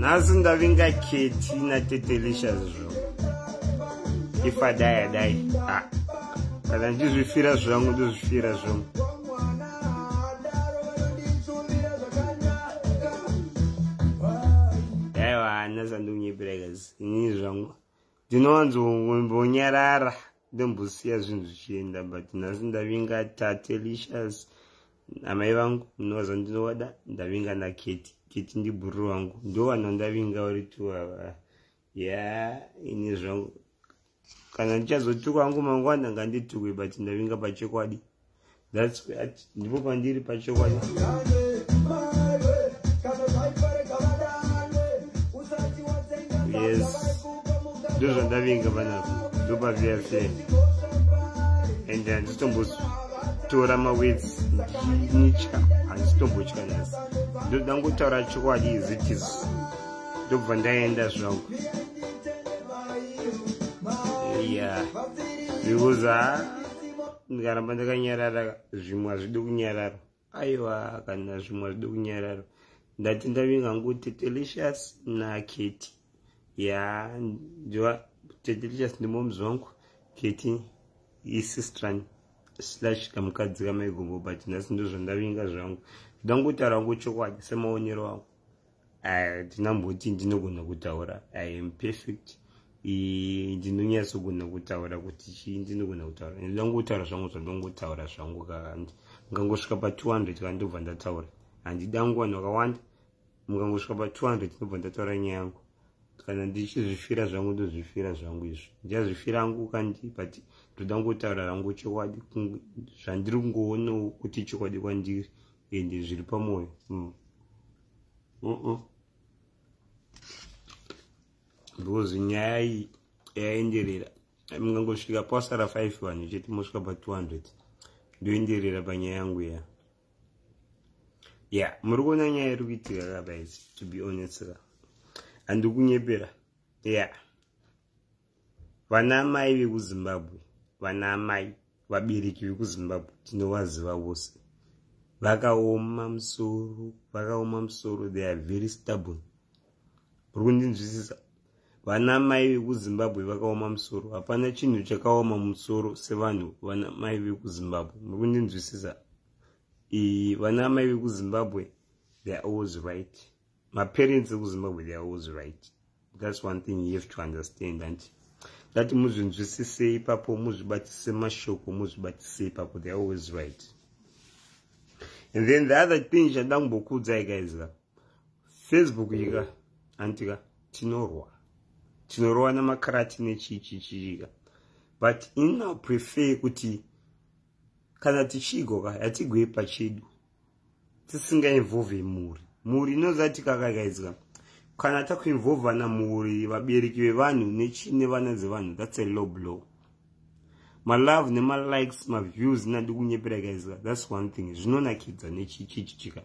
nhasi ndavingaketi natetelicious zvo ifadai adai ah, kana ndizvifira zvangu ndizvifira zvangu aiwa nhasi andiunyepiraikas inini zvangu ndinowanzombonyarara ndombosiya zvinhu zvichienda but nhasi ndavinga tatelicious amai vangu munovaza ndinovada ndavinga naketi keti ndibhuru vangu ndovana ndavinga uri tu ava ya ini zvangu kana ndichazotukwa vangu mangwana nganditukwe but ndavinga pachokwadi that's ndipo pandiri pachokwadi yes ndozvandavinga panapo ndopaviafe and handitombotora mawets ndichitya handitombotya nhasi ndoda ngotaura chokwadi izitis ndobva ndaenda zvangu yeah because uh, ndikaramba ndakanyarara zvimwe hazvidi kunyarara aiwa kana zvimwe hazvidi kunyarara ndati ndavinga ngu tetelicious naketi ya ndiwa tetelicious ndimoms wangu keti isistran slash kamukadzi kamaigombo but nhasi ndozvandavinga zvangu ndangotaura ngu chokwadi semaonero angu hatina mboti ndinogona kutaura i am perfect ndinonyatsogona kutaura kuti chii ndinogona kutaura ndinongotaura zvangu zvandongotaura zvangu kakandi mukangosvika pa 200 kana ndobva ndataura handida nguva nokawanda mukangosvika pa 200 ndobva ndataura nyaya yangu kana ndichizvifira zvangu ndozvifira zvangu izvo ndichazvifira angu kandi but ndoda ngotaura rangu chokwadi zvandiri kungoonawo kuti chokwadi kwandiri ende zviri pamwoyo mm. mm -mm. because nyaya iyi yaenderera mungangosvika pasara 5 vanhu chete mosvika pa 200 ndoenderera panyaya yangu ya ya muri kuona nyaya iri kuitika ka guys to be honest ka handikunyepera ya yeah. vana amai vekuzimbabwe vana amai vabereki vekuzimbabwe tinovaziva vose vakaoma musoro vakaoma musoro they are very stubborn uri kundinzwisisa vana amai vekuzimbabwe vakaoma musoro hapana chinhu chakaoma musoro sevanhu vana amai vekuzimbabwe muri kundinzwisisa vana amai vekuzimbabwe they are always right maparents ekuzimbabwe they are always right that's one thing you have to understand and that muzvinzwisise ipapo muzvibatise mashoko muzvibatise ipapo they are always right and then the other thing chanda kumbokuudzai guys ka facebook yika antika tinorwa tinorwa namakarati nechichichiika but ina prefer kuti kana tichigoka hatigoi pachedu tisingainvolve mhuri mhuri inoziva tikakagaidzwa kana takuinvolvana mhuri vabereki vevanhu nechine vana dzevanhu thats a low blow malove nemalikes maviews nadi kunyepera gaizwa thats one thing zvinonakidza nechichichichika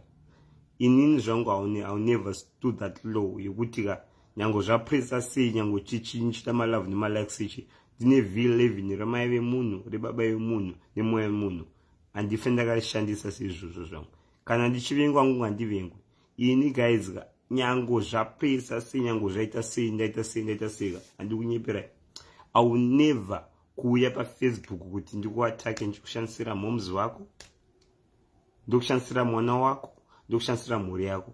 inini zvangu iwill never stood that low yekuti ka nyange zvapresa sei nyange chichiita malove nemalikes ichi ndine villevin remai vemunhu rebaba vemunhu nemoya vemunhu handife ndakarishandisa seizvozvo zvangu kana ndichivengwa ngungu handivengwe ini guys nyango zvapesa sei nyango zvaita sei ndaita sei ndaita seika handikunyeperai i will never kuuya pafacebook kuti ndikuatake ndichikushandisira moms vako ndokushandisira mwana wako ndokushandisira mhuri yako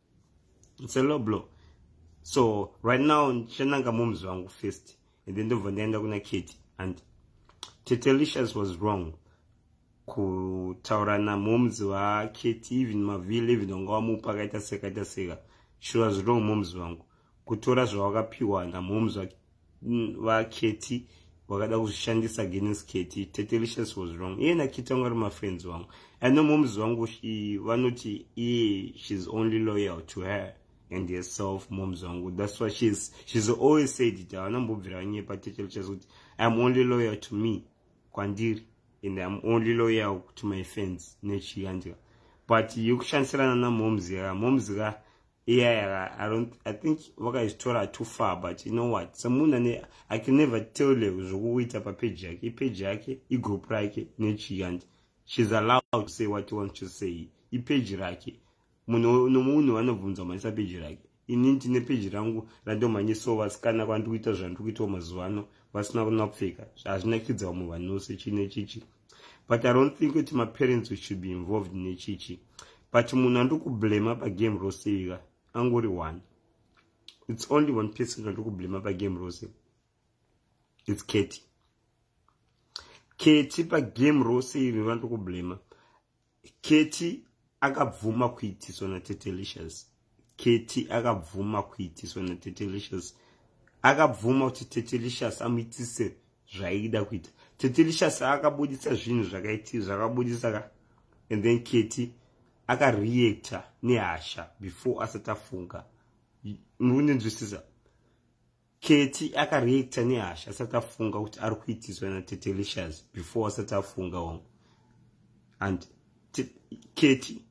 it's a low blow so right now ndichananga moms vangu first and then ndobva ndaenda kuna kate and tetelicious was wrong kutaura namoms vakate even mavile even vanga vamupa akaita seka akaita seka she was wrong moms vangu kutora zvawakapiwa namoms vaketi mm, wakada kuzvishandisa against keti tetelicious was wrong iye nakiti vanga ri mafriends vangu i know moms vangu vanoti iye she's only loyal to her and herself moms vangu that's why she's, she's always said it havana mbobvira vanyepa tetelicious kuti iam only loyal to me kwandiri and iam only loyal to my friends nechiyandika but yekushandisirana namoms ka moms ka yeah, yeah i don't i think vakaitora too far but you know what semunhu ane i can never tell you zvokuita papeji yake ipeji yake igroup rake nechii and she's allowed to say what you want to say ipeji rake munhu nomunhu vanobvunza manyisa peji rake ini ndine peji rangu randomanyisawo vasikana kwandiri kuita zvandiri kuitawo mazuva ano vasina kunapfeka hazvinakidza vamwe vanhu vose chine chichi but i don't think kuti maparents should be involved nechichi but munhu andikublema pagame rose ika angori one it's only one person andikublema pagame rose it's keti keti pagame rose iri vandikublema keti akabvuma kuitiswa natetelicious keti akabvuma kuitiswa natetelicious akabvuma kuti tetelicious amuitise zvaida kuita tetelicious akabudisa zvinhu zvakaiti zvakabudisa ka and then keti akareacta nehasha before asati afunga muri kundinzwisisa keti akareacta nehasha asati afunga kuti ari kuitiswa natetelicious before asati afunga wangu and keti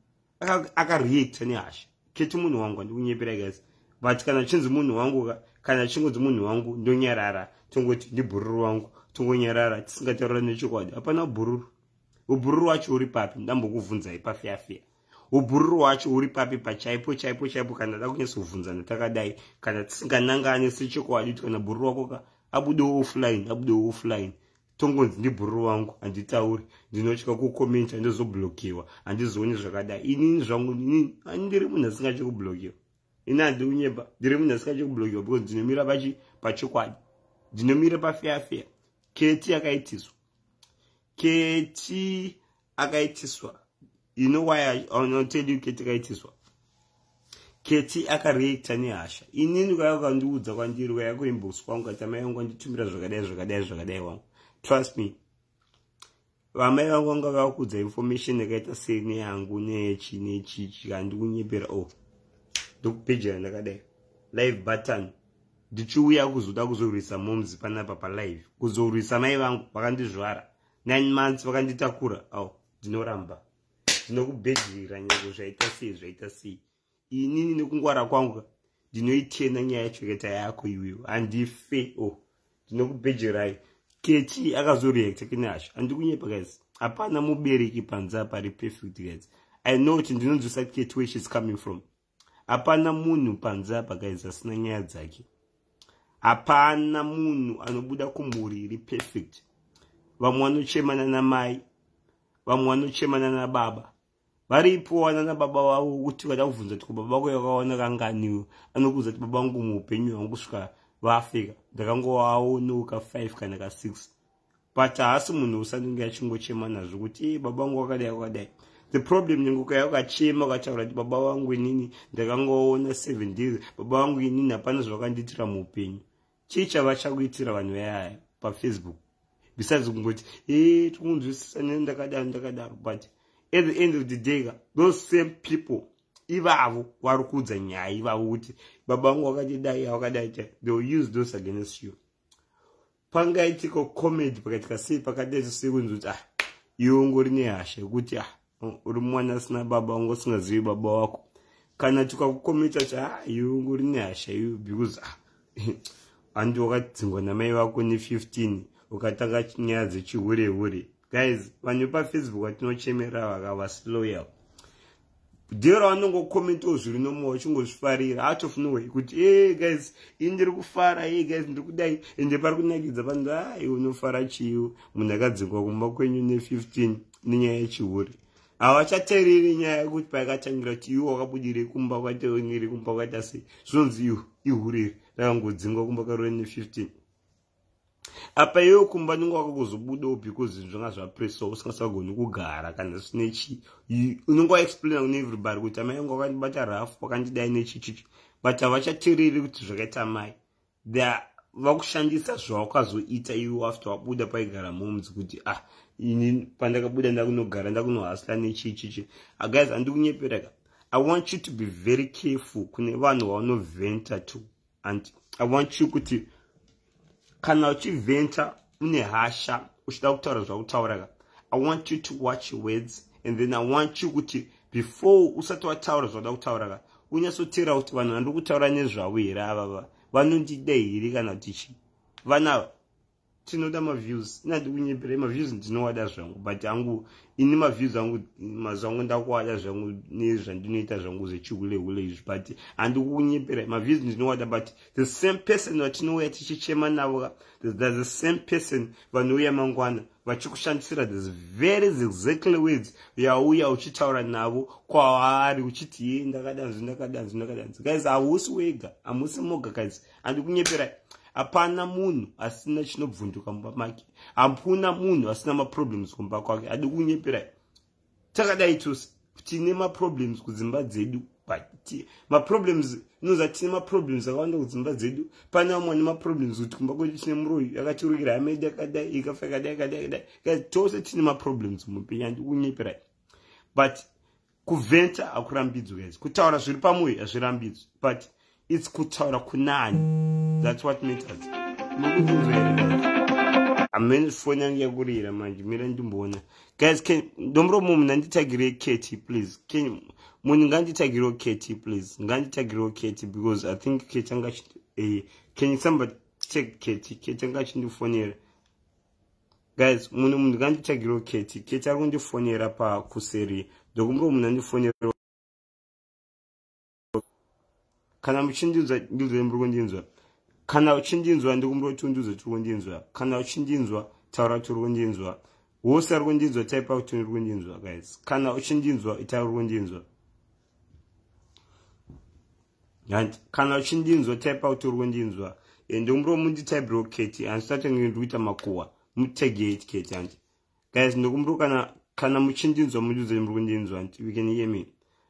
akareacta nehasha keti munhu wangu andikunyepera guys but kana achinzi munhu wangu kana achingonzi munhu wangu ndonyarara tongoti ndibhururu wangu tongonyarara tisingataurira nechokwadi hapana bhururu ubhururu wacho uri papi ndambokuvhunzai pafeafea ubhururu hwacho huri papi pachaipo chaipo chaipo kana da kunyatsovhunzana takadai kana tisinganangane sechokwadi kuti kana bhururu wako ka abudewo offline abudewo offline tongonzi ndibhururu wangu handitauri ndinotya kukomenta ndozoblokiwa handizooni zvakadai inini zvangu inini ndiri munhu asingatye kublokiwa ini handiunyeba ndiri munhu asingatye kublokiwa because ndinomira pachi pachokwadi ndinomira pafeafea keti yakaitiswa keti akaitiswa you know why I, I'll tell you keti kaitiswa keti akareacta nehasha inini kwaya ukandiudza kwandiri kwaya kuinbox kwangu kati amai vangu vanditumira zvakadai zvakadai zvakadai wangu trust me vamai vangu vanga vakuudza information yakaita sei neyangu nechi nechichi kandikunyepera o oh. ndokupejera ndakadai live button ndichiuya kuzoda kuzorwisa momzi panapa palive kuzorwisa mai vangu vakandizvara nine months vakanditakura au ndinoramba ndinokubhedhirira nyango zvaita sei zvaita sei inini nekungwara kwangu ndinoitenda nyaya yachoketa yako iweyo handife o oh, ndinokubhedhirai kechi akazoreacta kinasha andikunyepa guys hapana mubereki panze apari perfect guys i know kuti ndinonzwisa kechi where she's coming from hapana munhu panze apa guys asina nyaya dzake hapana munhu anobuda kumhuri iri perfect vamwe vanochemana namai vamwe vanochemana nababa varipo wana nababa vavo kuti vada kubvunza kuti kubaba vako yakawana kanganiwo anokuudza kuti baba vangu muupenyu hwangu kusvika vaafrika ndakangovaonoka 5 kana ka 6 but haasi munhu usanenge achingochema nazvo kuti e baba vangu wakadai wakadai the problem nengokaya ukachema ukataura kuti baba vangu inini ndakangoona seven days baba vangu inini hapana zvavakandiitira muupenyu chii chava chakuitira vanhu vayaya pafacebook besides kungoti e tikunzwisisa nene ndakadaro ndakadaro but at the end of the day ka those same people ivavo vari kuudza nyaya ivavo kuti baba vangu vakatidai avakadai they will use those against you pangaitika comedy pakaitika sei pakadai zvisei kunzi kuti ah iwe ungori nehasha yekuti ah uri mwana asina baba ungo usingazivi baba wako kana tikakukometa kuti ah iwe ungori nehasha iwe because ah handi wakadzingwa namai vako ne 15 ukatanga nyaya dzechihure hure, hure. guys vanhu vepafacebook vatinochemerera vaka vasiloyal deal ravanongokomentawo zviri nomoa uchingozvifarira atofunohwei kuti e guys ini ndiri kufara e guys ndiri kudai ende pari kunakidza vanhu ai unofara chiiwo munhu akadzingwa kumba kwenyu ne15 nenyaya yechihure havachatereri nyaya yekuti paakatangira kuti iwo wakabudirei kumba kwataoniri kumba kwata sei zvinonzi ihure rakangodzingwa kumba karore ne15 apa iwewo kumba nyonga wako kuzobudawo because zvinhu zvanga zvapresa usingasagoni kugara kana zvisine chii unonga waexplaina kune everybody kuti amai yangu wakandibata rafu wakandidai nechichichi but havachatereri kuti zvakaita amai the vakushandisa zvawakazoita iwe after wabuda paigara momzi kuti ah ini pandakabuda ndakunogara ndakunohasla nechichichi ah, guys handikunyepera ka i want you to be very careful kune vanhu vaunoventa to and i want you kuti kana uchiventure une hasha uchida kutaura zvakutauraka i want you to watch your words and then i want you kuti before usati wataura zvauda kutauraka unyatsoteera kuti vanhu vandiri kutaura nezvavo here avava vanondida here kana kuti chii vanava tinoda maviews inandi kunyepera maviews ndinowada zvangu but angu ini maviews angu mazuva angu ndakuwada zvangu nezvandinoita zvangu zvechihulehule izvi but handi kunyepera maviews ndinowada but the same person vatinouya tichichema navo thats the same person vanouya mangwana vachikushandisira this very exactly words yauya uchitaura navo kwaari uchiti ye ndakadanzi ndakadanzi ndakadanzi guys hausi wega hamusi moga guys andikunyepera hapana munhu asina chinobvunduka mumba make hapuna munhu asina maproblems kumba kwake andikunyepera takadai tose tine maproblems kudzimba dzedu maproblems inoza tine maproblems akawanda kudzimba dzedu pane vamwe ane maproblems kuti kumba kwedu tine muroyi akatirukira hamedi akadai ikafa yakadai akadai akadai tose tine maproblems muupenyu andikunyepera but kuvhenta hakurambidzwi guys kutaura zviri pamoyo hazvirambidzwi but its kutaura kunani thats what matters amene foni yange yakurira manje mira ndimboona guys ndomuromo munhu anditagirei keti please munhu nganditagireo keti please nganditagireo keti because i think keti anga eh, can somebody check keti keti anga achindifonera guys mune munhu nganditsvagiro keti keti ari kundifonera pakuseri ndokumbiro munhu andifonera kana muchindinzwa ndiudzai muri kundinzwa kana uchindinzwa ndikumbiro kuti undiudze tiri kundinzwa kana uchindinzwa taura kuti uri kundinzwa wose ari kundinzwa taipa kuti uri kundinzwa guys kana uchindinzwa itaura uri kundinzwa and kana uchindinzwa type out uri kundinzwa and umro munditaibiro keti hanzi tatenge ndiri kuita makuwa mutege it keti hanzi guys ndokumro kana kana muchindinzwa mundiudze muri kundinzwa hanzi we can hear me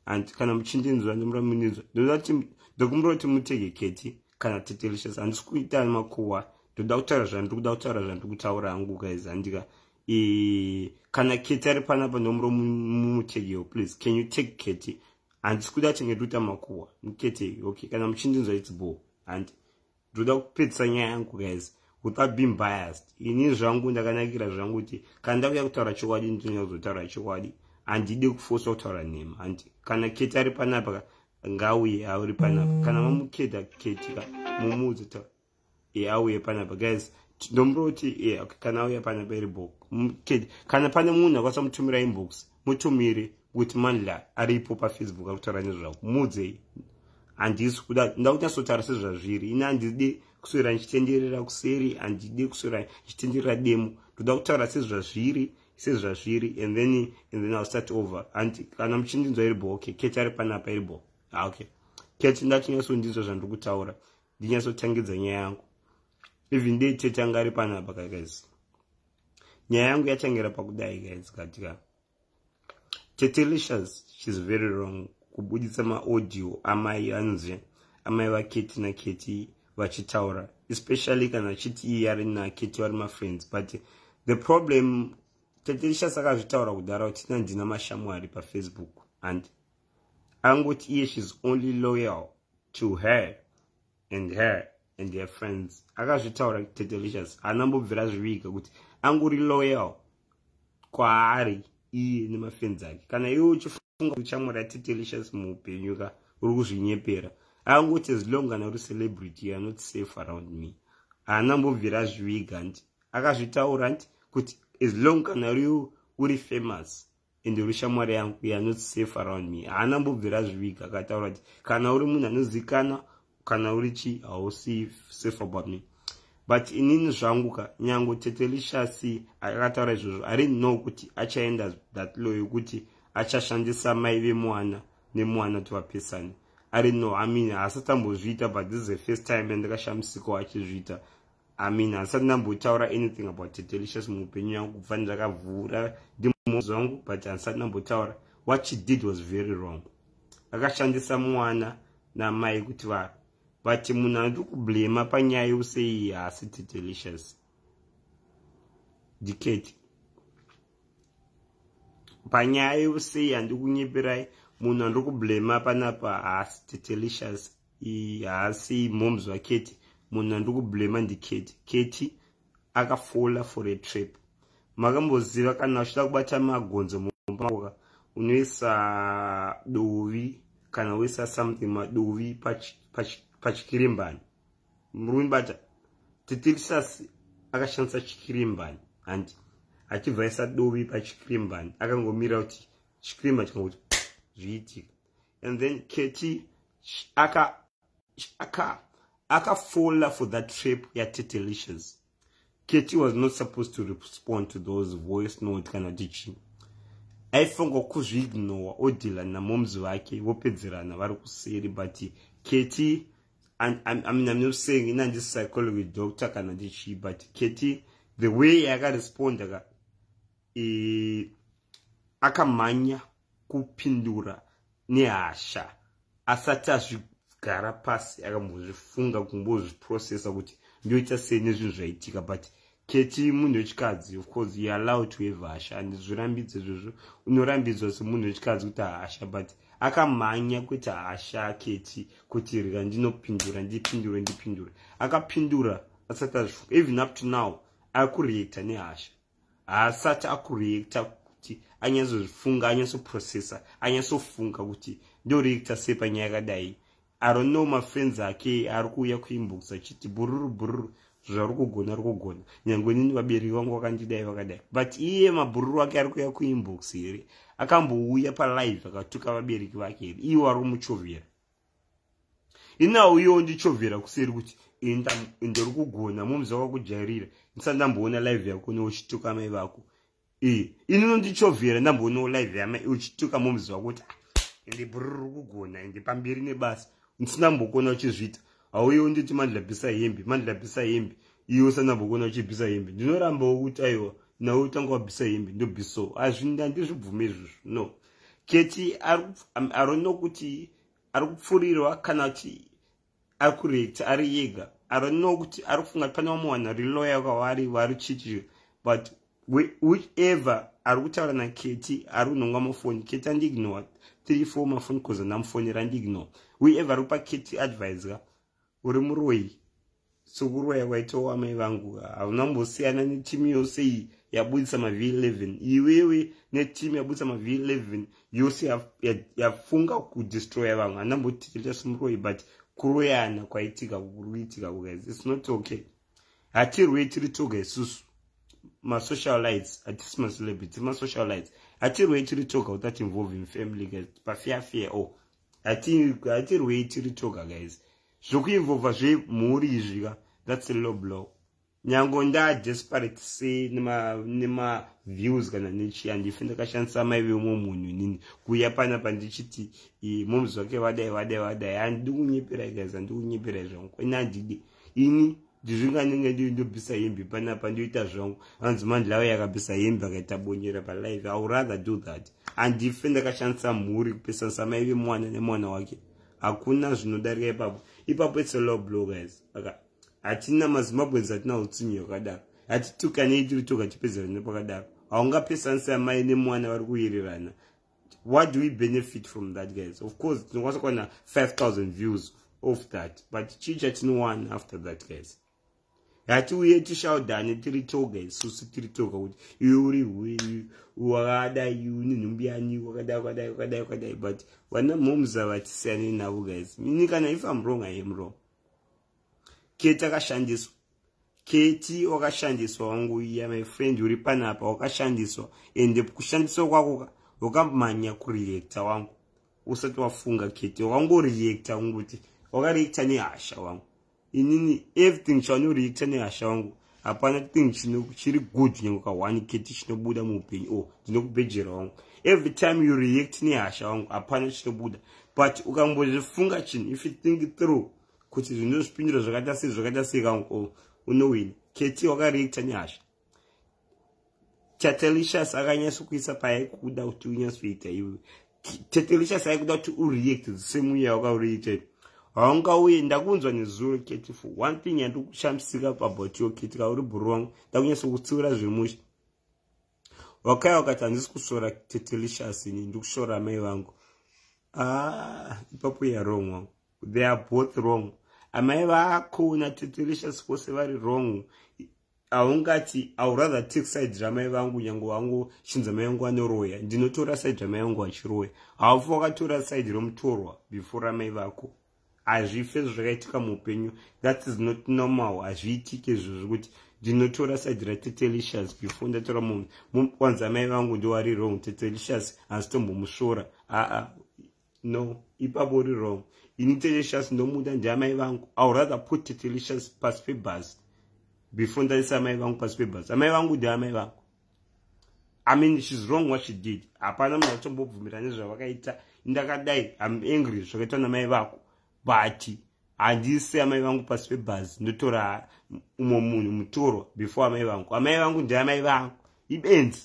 and kana muchindinzwa ndimura mundinzwa ndoda kuti ndokumro kuti mutege keti kana tetelicious handisi kuita makuwa ndoda kutaura zvandiri kuda kutaura zvandiri kutaura hangu guys handika kana keti ari panapa ndomuro mumutegewo please can you take keti handisi kuda chingetoita makuwa muketei okay kana muchindinzwa its bo handi ndoda kupedzisa nyaya yangu guys without being biased ini zvangu ndakanakira zvangu kuti kana ndakuya kutaura chokwadi ndinonyanya kuzotaura chokwadi handidi kufosa kutaura nhema handi kana keti ari panapa ngauye auri panapa kana mamuketa ketika mumuudza taura yeah, auye panapa guys ndombo kuti yeah, okay, kana auya panapa iri book kana pane munhu akwanisa mutumira inbox mutumire kuti manla aripo pafacebook akutaura nezvavo muudzei handisi kuda nda kunyatsotaura sezvazviri ini handidi kuswera ndichitenderera kuseri handidi kuswera ndichitenderera demo ndoda kutaura sezvazviri sezvazviri and then and then ill start over and kana muchindinzwa iri bo okay keti ari panapa iri bo ah, okay keti ndatinyatso ndinzwa zvandiri kutaura ndinyatsotangidza nyaya yangu even dei tete anga ari panapa ka guys nyaya yangu yatangira pakudai guys katika tete licious shes very wrong kubuditsa maaudio amai anzi amai vaketi naketi vachitaura especially kana achiti iye ari naketi vari mafriends but the problem tete licious akazvitaura kudhara kuti nandina mashamwari pafacebook and angoti iye shes only loyal to her and her and her friends akazvitaura tetelicious haana mbobvira zviviga kuti anguri loyal kwaari iye nemafenzi ake kana iwe uchifunga uchamura tetelicious muupenyu ka uri kuzvinyepera angoti as long kana uri celebrity youare not safe around me haana mbobvira azviviga nti akazvitaura nti kuti as long kana uri famous ende uri shamwari yangu uye anoti safe around me haana mbobvira zviviga akataura kuti kana uri munhu anozikana kana uri chi hausi safe about me but inini zvangu ka nyango tete lishasi akataura izvozvo ari know kuti achaenda that law yokuti achashandisa mai vemwana nemwana kuti vapesane ari no amini haasatambozviita but this is the first time andikashamisikawo achizviita amin handisati ndambotaura anything about delicious muupenyu yangu kubva ndakavhura ndimozi wangu but handisati ndambotaura what she did was very wrong akashandisa mwana namai kuti va but munhu anoti kublema panyaya yeuseyi haasi tidelicious diketi panyaya yeuseyi handikunyeperayi munhu andiri kublema panapa haasi tidelicious haasi moms vaketi munhu andikublema ndiketi keti akafola for a trap makamboziva kana uchida kubata magonzo mumbaoka unoisa dovi kana uisa something madovi pachikirimbani murume bata titirisas akashandisa chikirimbani handi achibva aisa dovi pachikirimbani akangomira kuti chikirimbani chikanga kuti zviitika and then keti aka aka akafola for that trip yatetelations keti was not supposed to respond to those voice note kana kuti chii aifunga kuzviignowa odhila namomzi vake vopedzerana vari kuseri but keti I'm, I'm, I mean, I'm not saying in this psychology doctor kana ndichi but keti the way yakaresponda ka e, akamhanya kupindura nehasha asati azvigara pasi akambozvifunga kumbozviprocessa kuti ndoita sei nezvinhu zvaitika but keti munhu wechikadzi of course you allow to have hasha andizvirambidze izvozvo unorambidzwa semunhu wechikadzi kuti hasha but akamhanya kuita hasha keti kuti rira ndinopindura ndipindure ndipindure akapindura asati azvifunga even up to now akureacta nehasha haasati akureacta kuti anyatsozvifunga anyatsoprocessa anyatsofunga kuti ndoreacta sei panyaya yakadai arono mafriends ake ari kuuya kuinbox achiti bururu bururu zvauri kugona ari kugona nyange nini vabereki vangu vakandidai vakadai but iye mabhururu ake ari kuuya kuinbox here akambouya palive akatuka vabereki vake here iwo ari kumuchovera inawo iyewo ndichovhera kuseri kuti ndiri kugona momzi wakakujairira ndisati ndamboona live yako ne uchituka mai vako ee ini nondichovhera ndamboonawo live yamai uchituka momzi wako kuti ende ah, bruri kugona ende pamberi nebasa ndisina mbokona uchizviita hauyewo nditi mandilabhisa hembe mandilabhisa hembe iwe usana mbokona uchibhisa hembe ndinorambawo kuti aiwa nawe utanga wabhisa hembe ndobhisawo azvindandizvibvume izvozvo no keti arone kuti ari kupfurirwa kana kuti ari kurekta ari yega arone nokuti ari kufunga kuti pane vamwe vanhu vari loya kwavari vari chichiro but whichever ari kutaura naketi ari kunhonga mafoni keti andiignore three four mafoni coz andamufonera andiignore whichever ari kupa keti advise ka uri muroyi sokuroya kwaitawo amai vangu hauna mbosiyana netimu yose iyi yabudisa mavh 11 iwewe netimu yabudisa mavh 11 yose yafunga kudestroya vamwe hana mbotiteta somuroyi but kuroyana kwaitika kuri kuitika kuguys its not okay hatirwei tiri toga isusu masocialites hatisi macelebrity masocialites hatirwei tiri toga without involving family guys pafeafea o oh. hatirwei tiri toga guys zvokuinvolva zvemhuri izvi ka thats a low blow nyango ndadesperate sei nemaviews kana nechii handife ndakashandisa mai vemwe munhu inini kuuya pana pandichiti moms vake vadai vadai vadai handidi kunyeperai guys handidi kunyeperai zvangu kwene handidi ini ndizvinganenge ndiri ndobvisa hembe panapa ndoita zvangu hanzi mandlawe yakabvisa hembe akaita bonyera palive iw rather do that andife ndakashandisa mhuri kupesanisa mai vemwana nemwana wake hakuna zvinodarika ipapo ipapo its a law blow guys aka hatina mazimbabwens hatina utsinyi hwakadaro hatitukanei tiri toga tipedzerane pakadaro haungapesanisa mai nemwana vari kuwirirana what do we benefit from that guys of course tinokwanisa kuwana 5000 views of that but chii chatinowana after that guys hatiuye tishaudhane tiri toga isusu tiri toga kuti iwe uri hwei wakadai une nhumbi yani wakadai wakadai wakadai wakadai but vana momza vatisiyane navo guys mini kana if am wrong i am wrong keti akashandiswa keti wakashandiswa wangu ya my friend uri panapa wakashandiswa ende kushandiswa kwako wakamhanya kureacta wangu usati wafunga keti wakangoreacta wangu kuti wakareacta nehasha wangu inini everything chaanoreacta nehasha wangu hapana thing chiri good nyange kahwani keti chinobuda muupenyu o oh, ndinokubhejera wangu every time you react nehasha wangu hapana chinobuda but ukambozvifunga chinhu if you think through kuti zvine zvipindiro zvakaita sei zvakaita sei ka unowina keti wakareacta nyasha tatelicious akanyatso kuisa paaikuda kuti unyatsoita iwe tatelicious aikuda kuti ureact the same way yawakareacta haungauye ndakunzwa nezuro keti for one thing yandikushamisika pabout yo keti kauri bhuru wangu ndakunyatsokutsiura zvemusha wakaya wakati handisi kushora tetelicious ini ndikushora amai vangu ah, ipapo ah, yarong wangu they are both wrong amai vako natetelicious vose vari wrong haungati aurather take side ramai vangu nyange wangu chinzi amai vangu anoroya ndinotora side ramai vangu vachiroya haufa wakatora side romutorwa before ramai vako hazvife izvo zvakaitika muupenyu that is not normal hazviitike izvo zvekuti ndinotora side ratetelicious before ndatora munhu kwanza mai vangu ndiwari wrong tetelicious hanzitombomusvora aa no ipapo uri wrong ini tetelicious ndomuda ndiamai vangu iw rather put tetelicious pasi pebhasi before ndaisa amai vangu pasi pebhasi amai vangu ndiamai vangu i mean shes wrong what she did hapana munhu atombobvumira nezvavakaita ndakadai am angry zvakaitwa namai vako but handisi amai vangu pasi pebhazi ndotora umwe munhu mutoro before amai vangu amai vangu ndeamai vangu ibenzi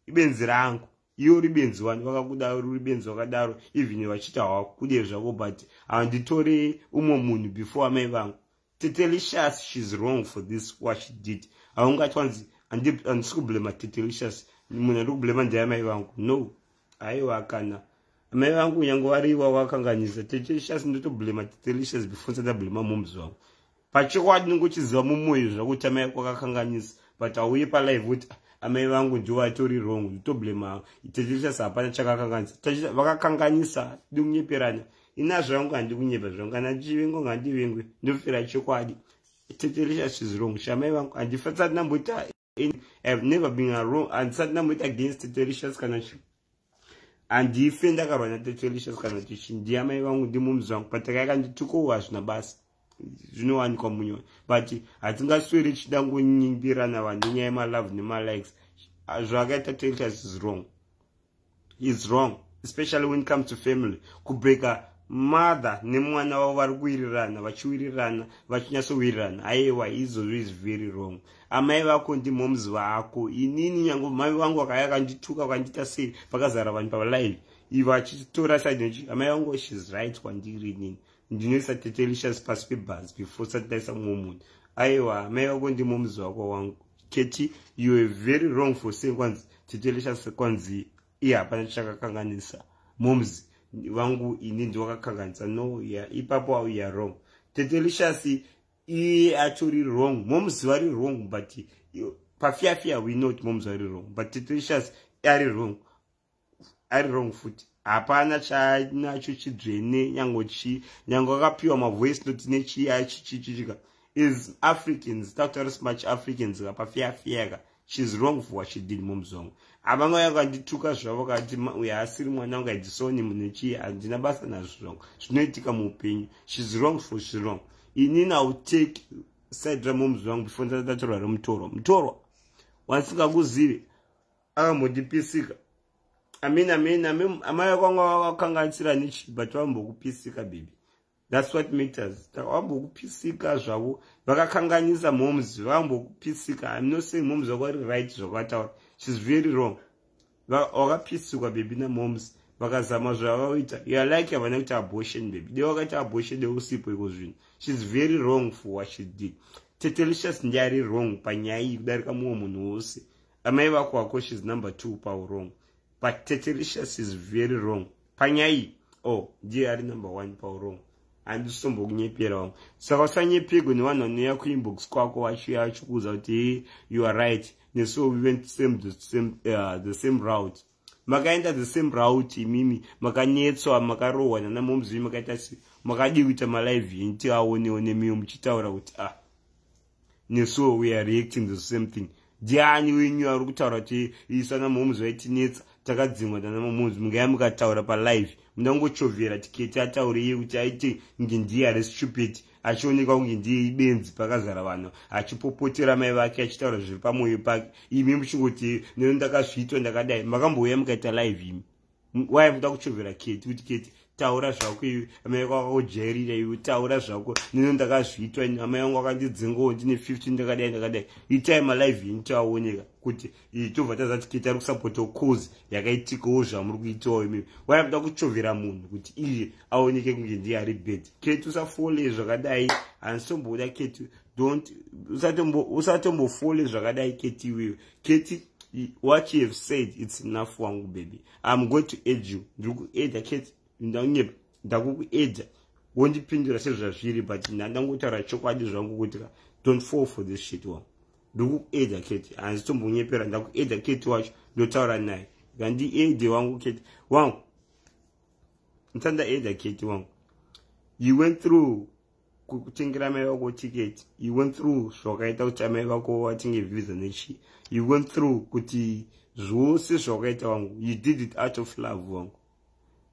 ibenzi rangu iwe uri benzi wani vakakuda uri benzi wakadaro even vachita hwakude zvako but handitore umwe munhu before amai vangu tetelicious shes wrong for this what she did haungatyi wanzi handisi kublema tetelicious munhu andi kublema ndeamai vangu no aiwa kana amai vangu nyange wariwa wakanganyisa tetelicious ndotoblema tetelicious before nsati ablema moms vangu pachokwadi ninge uchiziva mumoyo zvakuti amai ako akakanganyisa but hauye palive uti ah, amai vangu ndiwo atori wrong nditoblema tetelicious hapana chakakanganyisa vakakanganyisa dingunyeperanya ina zvangu handikunyepa zvangu kana ndichivingwa ngandivingwe ndofira chokwadi tete risha chizirong shamai vangu handifasati ndamboita have never been arong handisati ndamboita against tete rishas kana chi handife ndakarwa natete rishas kana kuti chi ndiamai vangu ndimumzi vangu pataka yakanditukowo hazvina basa zvinowanikwa munyoni but hatingasweri tichida ngonyimbirana vanhu nenyaya yemalove nemalikes zvakaita tete rishas is wrong is wrong especially when it comes to family kubreaker mother nemwana wavo vari kuwirirana vachiwirirana vachinyatsowirirana aiwa izvozvo is very wrong amai vako ndimoms vako inini nyange mai vangu vakaya vakandituka vakandiita sei vakazara vanhu palive ivo achitora side nochi amai vangu shes right kwandiri inini ndinoisa tetelicious pasi pebhazi before sati ndaisa mumwe munhu aiwa amai vako ndimoms vako wangu Keti, you are very wrong for saying kwanzi tete leshasi kwanzi iye hapana chakakanganisa moms vangu ini ndiwakakanganisa no yeah, ipapo au ya wrong tete leshasi iye atori wrong moms vari wrong but pafiyafia we not moms vari wrong but tete leshasi ari wrong ari wrong futi hapana chanacho chidzvene nyango chii nyango akapiwa mavoice noti nechii achichichichika is africans takutaura smach africans ka pafeafea ka shes wrong for what she did mumzongo havanga yakandituka zvavo kati uyo asiri mwana wangu aidisoni munhu chii handina basa nazvo zvongo zvinoitika muupenyu shes wrong for she wrong ini now take side ramomzi wangu before ndatatorwa remutorwa mutorwa wandisingakuzive akambotipisika amin amin amai vakwanga vakakanganisira nichi but vambokupisika bibi thats what matters vambokupisika zvavo vakakanganisa moms vambokupisika im not saying moms vako vari right zvakataura shes very wrong vakapisikwa bebi namoms vakazama zvavavaita yalike havana kuita abortion bebi de vakaita abortion de usipo iko zvinhu shes very wrong for what she did tetelicious ndiari wrong panyaya iyi kudarika mumwe munhu wose amai vako wako shes number two paurong but tetericious is very wrong panyai o oh, ndiye ari number one paurong handisombokunyepera wangu saka usanyepego nevanhu vanouya kuinbox kwako vachiuya vachikuudza kuti you are right nesu we went same, the, same, uh, the same route makaenda the same route imimi makanetswa makarohwa nana momzii makaita se makadii kuita malive yenyu tiaonewo nemiwo muchitaura kuti ah nesuwo weare reacting the same thing ndiani wenyu ari kutaura kuti isana momzi vaitinetsa takadzimwa nana momzi mungaya mukataura palive mundangochovhera tiketi ataure iye kuti aite nge ndiye ari stupid achionekwa kunge ndiye ibenzi pakazara vanhu achipopotera mai vake achitaura zviri pamwoyo pake imi muchingoti neno ndakazviitwa ndakadai makambouya mukaita live imi waya muda kuchovera keti kuti keti taura zvako iwe amai vako vakakujairira iwe taura zvako neno ndakazviitwa amai vangu vakandidzingawo ndine 15 ndakadai ndakadai itai malive ini tiaoneka kuti iyi chobva tazati kuita ari kusapotawo cause yakaitikawo zvamuri kuitawo imimi waya kuda kuchovera munhu kuti iye aoneke kunge ndiye ari bad keti usafole zvakadai handitomboda keti dont usatombofole zvakadai keti iwewe keti what you have said it's enough wangu baby im going to aid you ndiri kueda keti ndaunyepa ndakukueda wondipindura sezvazviri but ndandangotaura chokwadi zvangu kuti don't fall for this shit wangu ndokueda keti hanzi tombonyepera ndakueda keti wacho ndotaura naye ngandiede wangu keti wangu ntandaeda keti wangu you went through kutengera mai vako ticket you went through zvawakaita kuti amai vako vatenge visa nechii you went through kuti zvose zvawakaita wangu you did it out of love wangu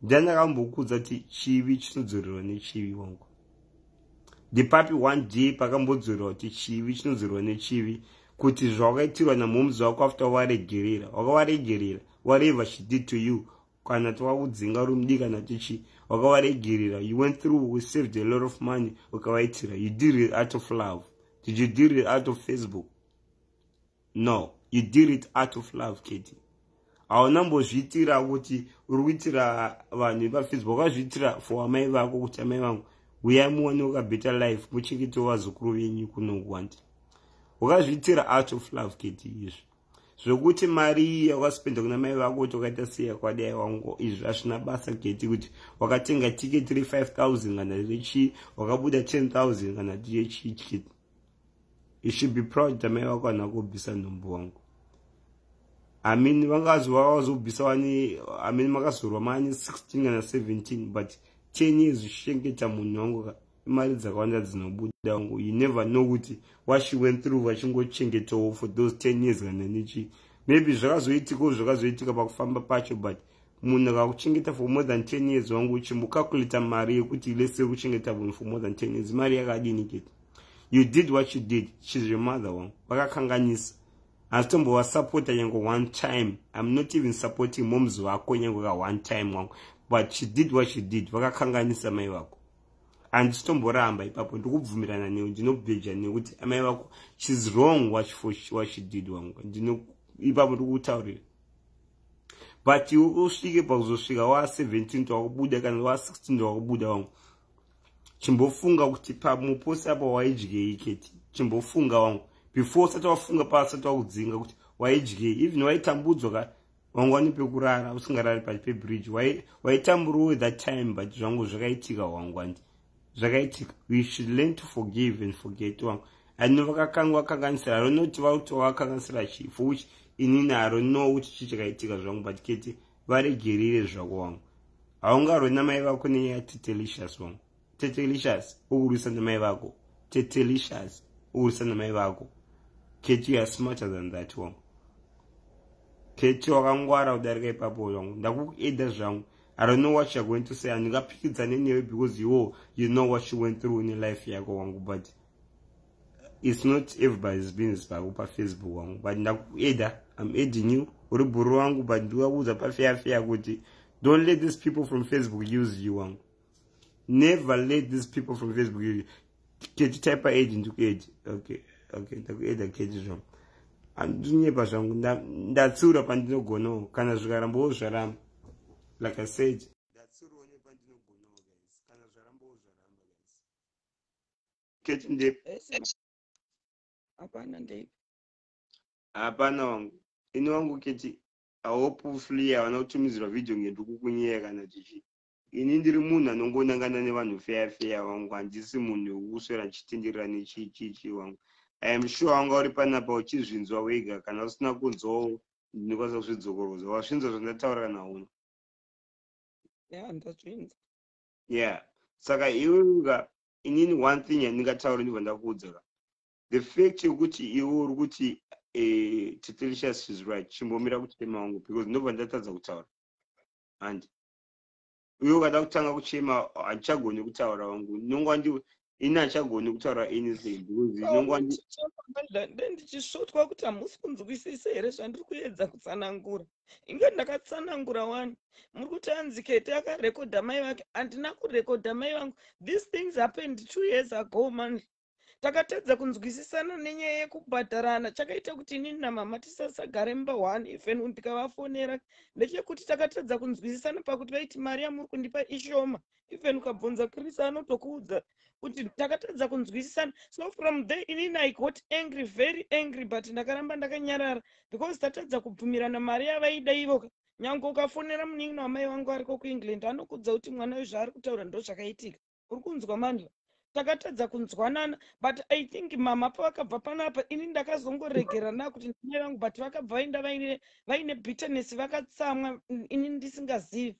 ndiani akambokuudza kuti chivi chinodzorerwa nechivi wangu ndipapi one day pakambodzorerwa kuti chivi chinodzorerwa nechivi kuti zvawakaitirwa namoms wako after waregerera wakawaregerera whatever she did to you kana twakudzinga rumdi kana tichi wakawaregerera you went through we saved a lot of money ukavaitira you did it out of love did you did it out of facebook no you did it out of love keti hauna mbozviitira kuti uri kuitira vanhu ipafisbo wakazviitira for amai vako kuti amai vangu uyai muone ukabetter life muchengete vazukuru venyu kunokwandi wakazviitira out of love keti izvi zvekuti mari iyi yawakaspenda kuna mai vako kuti wakaita seya kwadai wangu izvi hazvina basa keti kuti wakatenga tiketi re 5000 kana rechii wakabuda 10000 kana tiechii keti you should be proud tamai vako ana kubvisa nhumbu wangu amin vangazova vazobvisa wani amin makazorwa mani 16 kana 17 but 10 years zvichengeta munhu wangu ka imari dzakawanda dzinobuda wangu you never know kuti what she went through vachingochengetawo for those 10 years kana nechi maybe zvakazoitikawo zvakazoitika pakufamba pacho but munhu akakuchengeta for more than 10 years wangu uchimbokakuleta mari yekuti lese kuchengeta munhu for more than 10 years mari yakadini kete you did what you did she's your mother wangu vakakanganisa hazitombovasapota nyange one time im not even supporting moms vako nyange ka one time wangu but she did what she did vakakanganisa mai vako handisitomboramba ipapo ndikubvumirana newe ndinobveja nekuti amai vako she's wrong what she did wangu ipapo ndikutaurira but usvike pakuzosvika wa 17 wakubuda kana wa 16 wakubuda wangu chimbofunga kuti pamuposi apa waidyei keti chimbofunga wangu before usati wafunga paasati wakudzinga kuti waidyei even waitambudzwa ka wangu wani pekurara usingarari pati pebridge waitamburowe that time but zvangu zvakaitika wangu andi zvakaitika we should learn to forgive and forget wangu ano vakakangwa kanganisira ronoti vautova vakanganisira chii for which ini naro no kuti chii chakaitika zvangu but kete varegerire zvako wangu haungarwe namai vako nenyaya tetelicious wangu tetelicious ukurwisa namai vako tetelicious ukurwisa namai vako kete youare smarter than that wangu kete wakangwara kudarika ipapo wangu ndakukueda zvangu I don't know what you're going to say handingapfikidzane newe because you you know what you went through in life yako wangu but it's not everybody's business pako pafacebook wangu but ndakueda i'm adding you uri bhuru wangu but ndikakuudza pafeyafeya kuti don't let these people from facebook use you wangu never let these people from facebook use you kechi type age ndikueji okay okay ndakueda kechi zvangu andinyepa zvangu ndatsiura pandinogonawo kana zvikarambawo zvaramba like i said kechi ndepi hapana ndepi hapana wangu ini wangu kechi i hope flee havana kutumidzirwa video ngendukukunyeya kana chichii ini ndiri munhu anongonangana nevanhu feya feya wangu handisi munhu wekuswera ndichitenderera nechiichiichi wangu iam sure wanga uri panapa uchizvinzwa wega kana usina kunzwawo ndinokwanisa kuzvidzokorwodza wazvinzwa zvandataurira nauna ya ndazvinzwa ya saka iwe uka inini one thing yandingataura ndibva ndakuudza ka the fact yekuti iwe uri kuti eh, titelicious is right chimbomira kuchema wangu because ndobva ndatadza kutaura handi uye ukada kutanga kuchema handichagoni kutaura vangu ndinonga ndi ini handichagoni kutaura anything because ndinonga ndi ndichisvotwa kuti hamusi kunzwisise here zvandiri kuedza kutsanangura inge ndakatsanangura wani muri kuti anzi kete akarekodha mai vake handina kurekodha mai vangu these things happened two years ago manje takatadza kunzwisisana nenyaya yekubhadharana chakaita kuti inini namama tisasagare mumba one even ndikavafonera ndechekuti takatadza kunzwisisana pakuti vaiti mari yamuri kundipa ishoma even ukabvunza krisa anotokuudza kuti takatadza kunzwisisana so from there inini i got angry very angry but ndakaramba ndakanyarara because tatadza kubvumirana mari yavaida ivoka nyange ukafonera munin'ina wamai vangu ariko kuengland anokudza kuti mwana uyu zvaari kutaura ndozvakaitika uri kunzwa manje takatadza kunzwanana but i think mama pavakabva panapa ini ndakazongoregera na kuti ndimai vangu but vakabva vaenda vaine vaine bitterness vakatsamwa ini ndisingazivi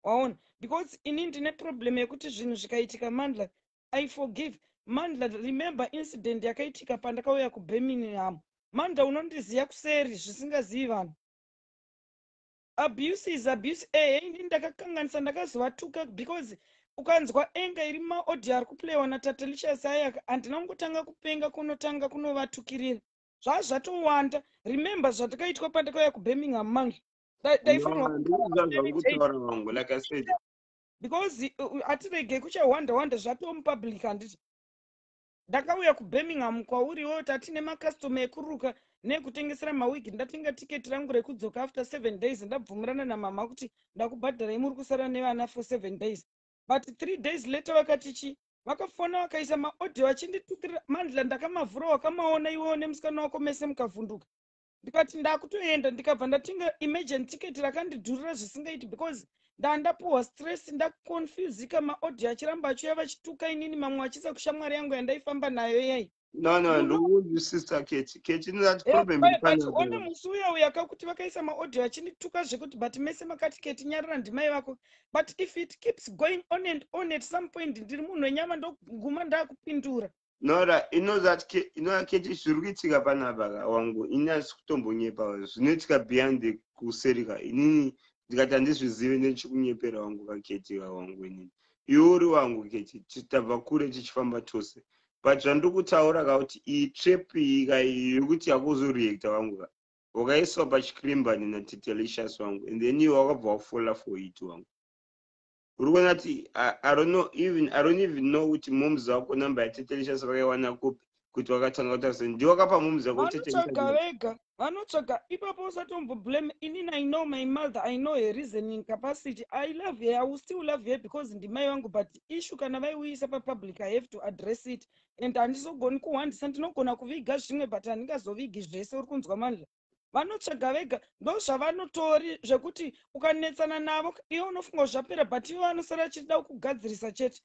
waona because ini ndine problem yekuti zvinhu zvikaitika mandla i forgive mandla remember incident yakaitika pandakauya kubirmingham mandla unondiziva kuseri zvisingazivi vanhu abuse is abuse ehe ini ndakakanganisa ndakazovatuka because ukanzwa enga iri maaudio ari kuplayiwa natatelicious ayaka handina kungotanga kupenga kunotanga kunovatukirira zvaa zvatowanda remember zvatakaitwa pandakauya kubirmingham mange because uh, uh, atirege kuchawanda wanda zvatomupublic handiti ndakauya kubirmingham kwauri iwewo tati nemakastoma ekuruka neekutengesera mawigi ndatenga tiketi rangu rekudzoka after seven days ndabvumirana namama kuti ndakubhadharai muri kusara nevana for seven days but three days later vakati chii vakafona vakaisa maaudio achinditutirira mandla ndakamavhura wakamaona iwewo nemusikana wako mese mukavhunduka ndikati ndakutoenda ndikabva ndatenga imagine ticket rakandidhurira zvisingaiti because ndandapuhwa stress ndaconfusika maaudio achiramba achiuya vachituka inini mamwe achisa kushamwari yangu yandaifamba nayo yai nonondoone musi uya uya kakuti vakaisa maaudio achindituka zvekuti but mese makati keti nyarira ndimai vako but if it keeps going on and on at some point ndiri munhu wenyama ndoguma ndakupindura nora inoaketi zviri kuitika panapa ka wangu ini asi kutombonyepa zvinoitika beyond the kuseri ka inini ndikati handizvizive nechikunyepera wangu kaketi ka wangu inini iwe uri wangu keti tabva kure tichifamba tose but zvandiri kutaura ka kuti iyi trap iyi ka yekuti yakuzoreacta wangu ka wakaiswa pachikrimbani natitelicious wangu and then iwe wakabva wafola for it wangu uri kuona kuti i don't know even i don't even know kuti moms vako number yatete licious vakaiwana kupi kuti wakatanga kutaura sei ndiwe wakapa moms vako vanotsvaga vega vanotsvaga ipapo usatomboblame inini i know my mother i know her reasoning capacity i love her i will still love her because ndimai vangu but issue kana vaiuyisa papublic i have to address it and handizogoni kuhwandisa ndinogona kuviga zvimwe but handingazovigi zvese uri kunzwa mandla vanotsvaga vega ndozvavanotori zvekuti ukanetsana navo iwe unofunga kuti zvapera but ivo vanosara achida kugadzirisa chete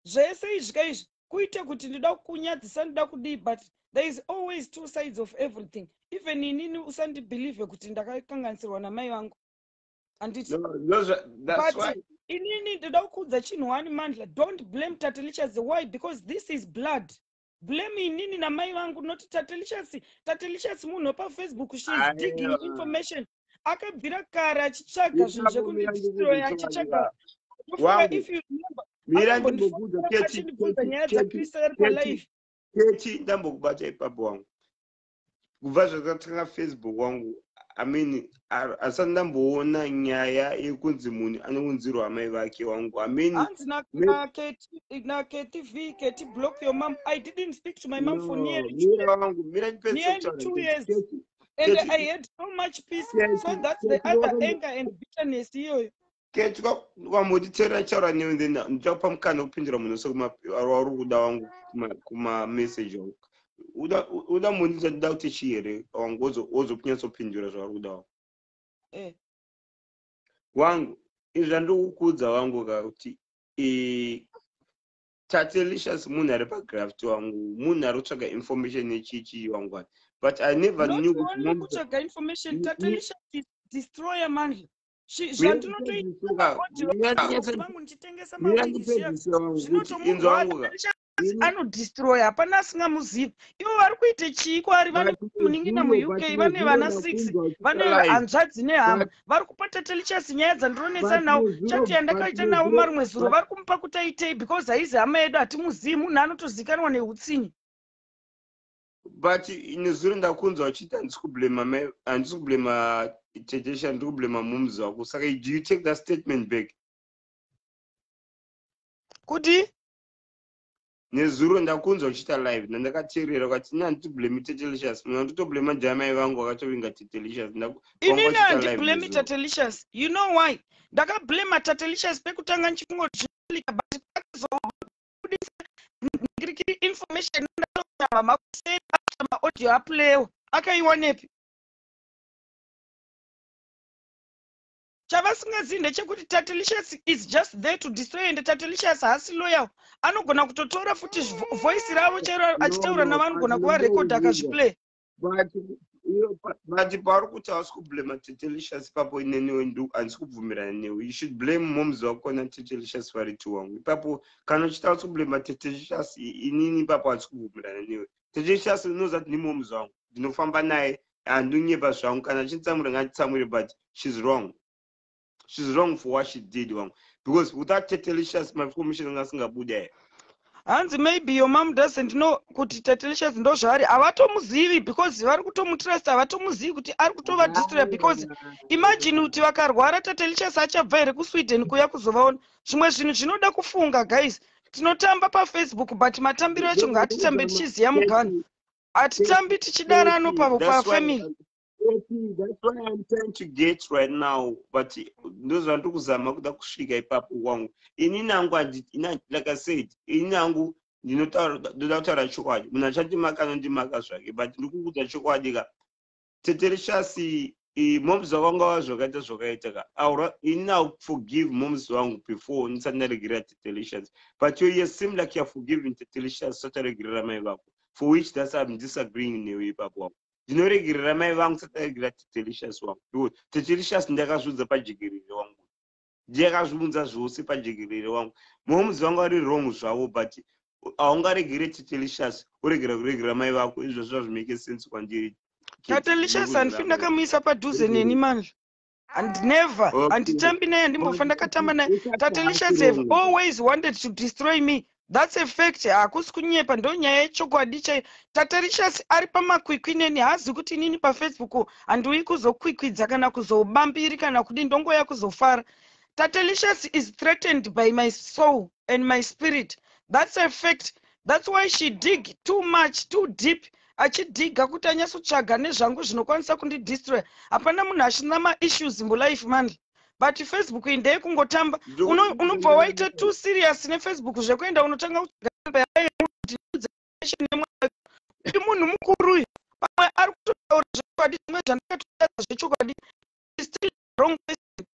zvese izvi ka izvi kuite kuti ndida kunyadzisa ndida kudii but there is always two sides of everything even inini usandibhelieve kuti ndakakanganisirwa namai vangu handiti no, no, but why. inini ndida kuudza chinhu wani mandla don't blame tatelichas why because this is blood blame inini namai vangu not tatelicious tatelicious munhu wepa facebook she is digging information akabvira kare achitsvaga zvinhu zvekundidistroy achitsvaga if you remember mirandimbokuza nyaya dzakrista yari palife kechi ndambokubata ipapo wangu kubva zvakatanga facebook wangu i mean asati ndamboona nyaya yekunzi munhu anounzirwa amai vake wangu i mean hanzi naketv keti block your mom i didn't speak to my mom for nearly two years and i had so much peace so that's the other anger and bitterness iyoyo ketwa wamboti tera ndichaura newe then ndichakupa mukana wekupindura munhu wese wauri kuda wangu kumameseji wangu uda moni dzandida kuti chii here wangu wozokunyatsopindura zvauri kuda wangu eh. wangu izvi zvandiri kukuudza wangu ka kuti tatelicious munhu ari pagraft wangu munhu ari kutsvaga information yechichii wangu ani but i never knew kutitsvaga information tatelicious destroyer manje anodestroya hapana asingamuzivi ivo vari kuita chii kwaari vane munin'ina muuk vane vana six vane hanzvadzi nehama vari kupa tatelichasi nyaya dzandironetsa nawo chati yandakaita navo marumwe zuro vari kumupa kuti aitei because haizi hama yedu hatimuzivi munhu anotozikanwa neutsinye but nezuro ndakunzwa uchiti handisi kublema handisi kublema tejesha ndiri kublema moms wako saka do you take that statement back kuti nezuro ndakunzwa uchita live nandakateerera ukati ini handiti blame tetelicious mwe anditoblame njaya mai vangu vakatovinga tetelicious inini handiblame tetelicious you know why ndakablame tetelicious pekutanga ndichifunga kuti zvinolika but pakazoa kubudisa ndikiri information ndatotaura makuseni after maaudio aplayewa akaiwanepi chavasingazivi ndechekuti tatelicious is just there to destroy ende tatelicious haasi loyal anogona kutotora futi voice ravo chero achitaura navo anogona kuvarekodha akazviplay but pauri kuti hausi kublema tetelicious ipapo ineniwe ndu handisi kubvumirana newe you should blame moms wako natetelicious vari two wangu ipapo kana uchiti hausi kublema tetelicious inini ipapo handisi kubvumirana newe tetelicious unoziva kuti ndimoms wangu ndinofamba naye handinyepa zvangu kana achinditsamwira nganditsamwire but shes wrong she's wrong for what she did wangu because without tatelicious maformation anga asingabuda here hanzi maybe your mom doesn't know kuti tatelicious ndo zvaari havatomuzivi because vari kutomutrusta havatomuzivi kuti ari kutova distra because imagine kuti vakarwara tatelicious achabva here kusweden kuya kuzovaona zvimwe zvinhu zvinoda kufunga guys tinotamba pafacebook but matambiro acho ngaatitambe tichiziva mugano hatitambi tichidarano pafamily ndozvandiri kuzama kuda kusvika ipapo kwangu ini nangu like i said ini nangu ndinoda kutaura chokwadi munhu achandimaka anondimaka zvake but ndiri kukuudza chokwadi ka tetereshasi moms vakanga va zvakaita zvakaita ka ini now forgive moms vangu before ndisati ndaregerera tetelicious but yoye seem like youare forgiving tetelicious usati aregerera mai vako for which thats im disagreeing newe ipapo wako ndinoregerera mai vangu sataregerera tetelicious wangu because tetelicious ndakazviudza pajekerere wangu ndakazviunza zvose pajekerere wangu momuzi vanga vari wrong zvavo but haungaregere tetelicious oregera kuregera mai vako izvo zvazvimeke sense kwandiri tetelicious handifi ndakamuisa padhuze neni manje and never handitambi naye handimbofa ndakatamba naye tatelicious have always wanted to destroy me thats a fact hakusi kunyepa ndo nyaya yechokwadi chai tatelicious ari pamakwikwi neni haazi kuti inini pafacebook handiuyi kuzokwikwidza kana kuzobambiri kana kudii ndongoya kuzofara tatelicious is threatened by my soul and my spirit thats a fact thats why she dig too much too deep achidhiga kuti anyatsotsvaga nezvangu zvinokwanisa kundidistroya hapana munhu achina maissues mulife mandi but facebook iyi ndeye kungotamba unobva waita t serious nefacebook zvekuenda unotanga kuti munhu mukuru uyu pamwe ari kutotaura zvechokwadi zvimwe zvandakatotaura zvechokwadi still wrong person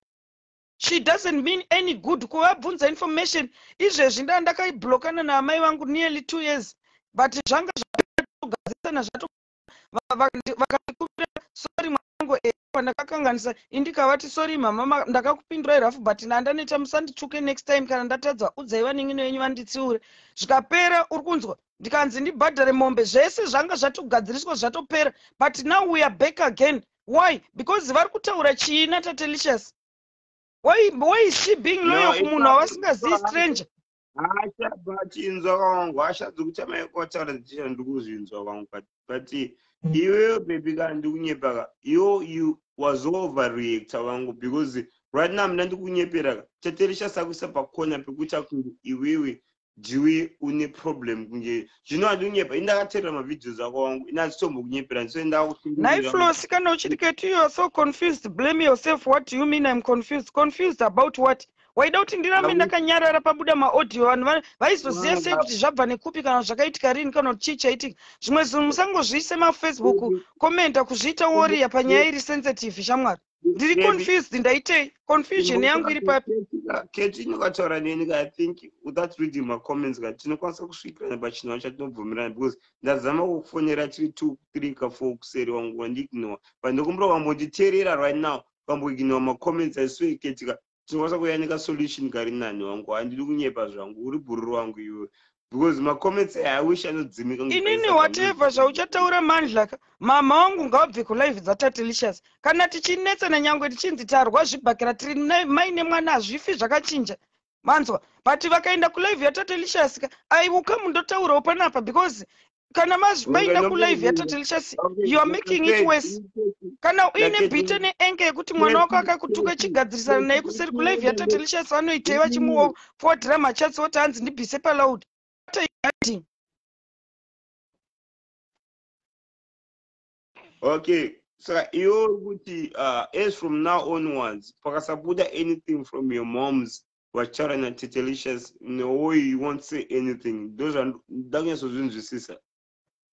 she doesn't mean any good kuvabvunza information izvezvi ndaa ndakaiblokana naamai vangu nearly two years but zvanga zvatogadzisana zvato vakandikuvira sorry mwanangu eh, pandakakanganisa indikavati sorry mama ndakakupindurai rafu but ndandaneta musanditsvuke next time kana ndatadza udzai vaningino yenyu vanditsiure zvikapera uri kunzwa ndikanzi ndibhadhare mombe zvese zvanga zvatogadziriswa zvatopera but now weare back again why because vari kutaura chii natatelicious why, why is she being loyal no, kumunhu wavasingazivi stranger hasha but inzwa wangu hasha dzokutamaikotaura dzichira ndikuzvinzwa wangu but mm. iweyo bebi kana ndikunyepaka yo you was overreactor wangu because right now mna ndikunyepera ka taterisha sakuisa pakona pekuita kunge iwewe jiwi une problem kunge zvino andinyepa indakaterera mavideos ako wangu ini azitombo kunyepera ndisoendaakunaiflos kana uchiti keti youare so confused blame yourself what do you mean im confused confused about what waida kuti ndirambe ndakanyarara pabuda maaudio vanhu vaizoziva sei kuti zvabva nekupi kana zvakaitika rini kana kuti chii chaitika zvimwe zvinhu musangozviise mafacebook komenta kuzviita woriya panyaya iri sensitive shamwari ndiri confused ndaitei confusion yangu iri papi keti inokataura neni ka i think without reading macomments ka tinokwanisa kusvikirana pachinhau chatinobvumirana because ndazama kukufonera tiri two three ka four kuseri wangu wandiignore but ndokumbira wambonditeerera right now ukamboignore macomments aiswee keti ka tinokwanisa kuyanika solution kari nani wangu handidi kunyepa zvangu uri bhururu wangu iwe because macomments aya i wish anodzimika inini whatever zvauchataura mandlaka mama wangu ngaabve kulive dzatatelicious kana tichinetsana nyangwe tichinzi tarwa zvibhakira tiri maine mwana hazvifi zvakachinja manzwa but vakaenda kulive yatatelicious ka aiuka mundotaurawo panapa because kana maenda kulive yatatelicious youare making it worse kana uine bite neenge yekuti mwana wako akakutuka chigadzirisana naye kuseri kulive yatatelicious vanoitei vachimufowadira machatsi woti hanzi ndibise paloud okay saka iwe uri kuti uh, as from now onwards pakasabuda anything from your moms vacharanya tetelicious neoy you won't say anything ndozvandakunyatsozvinzwisisa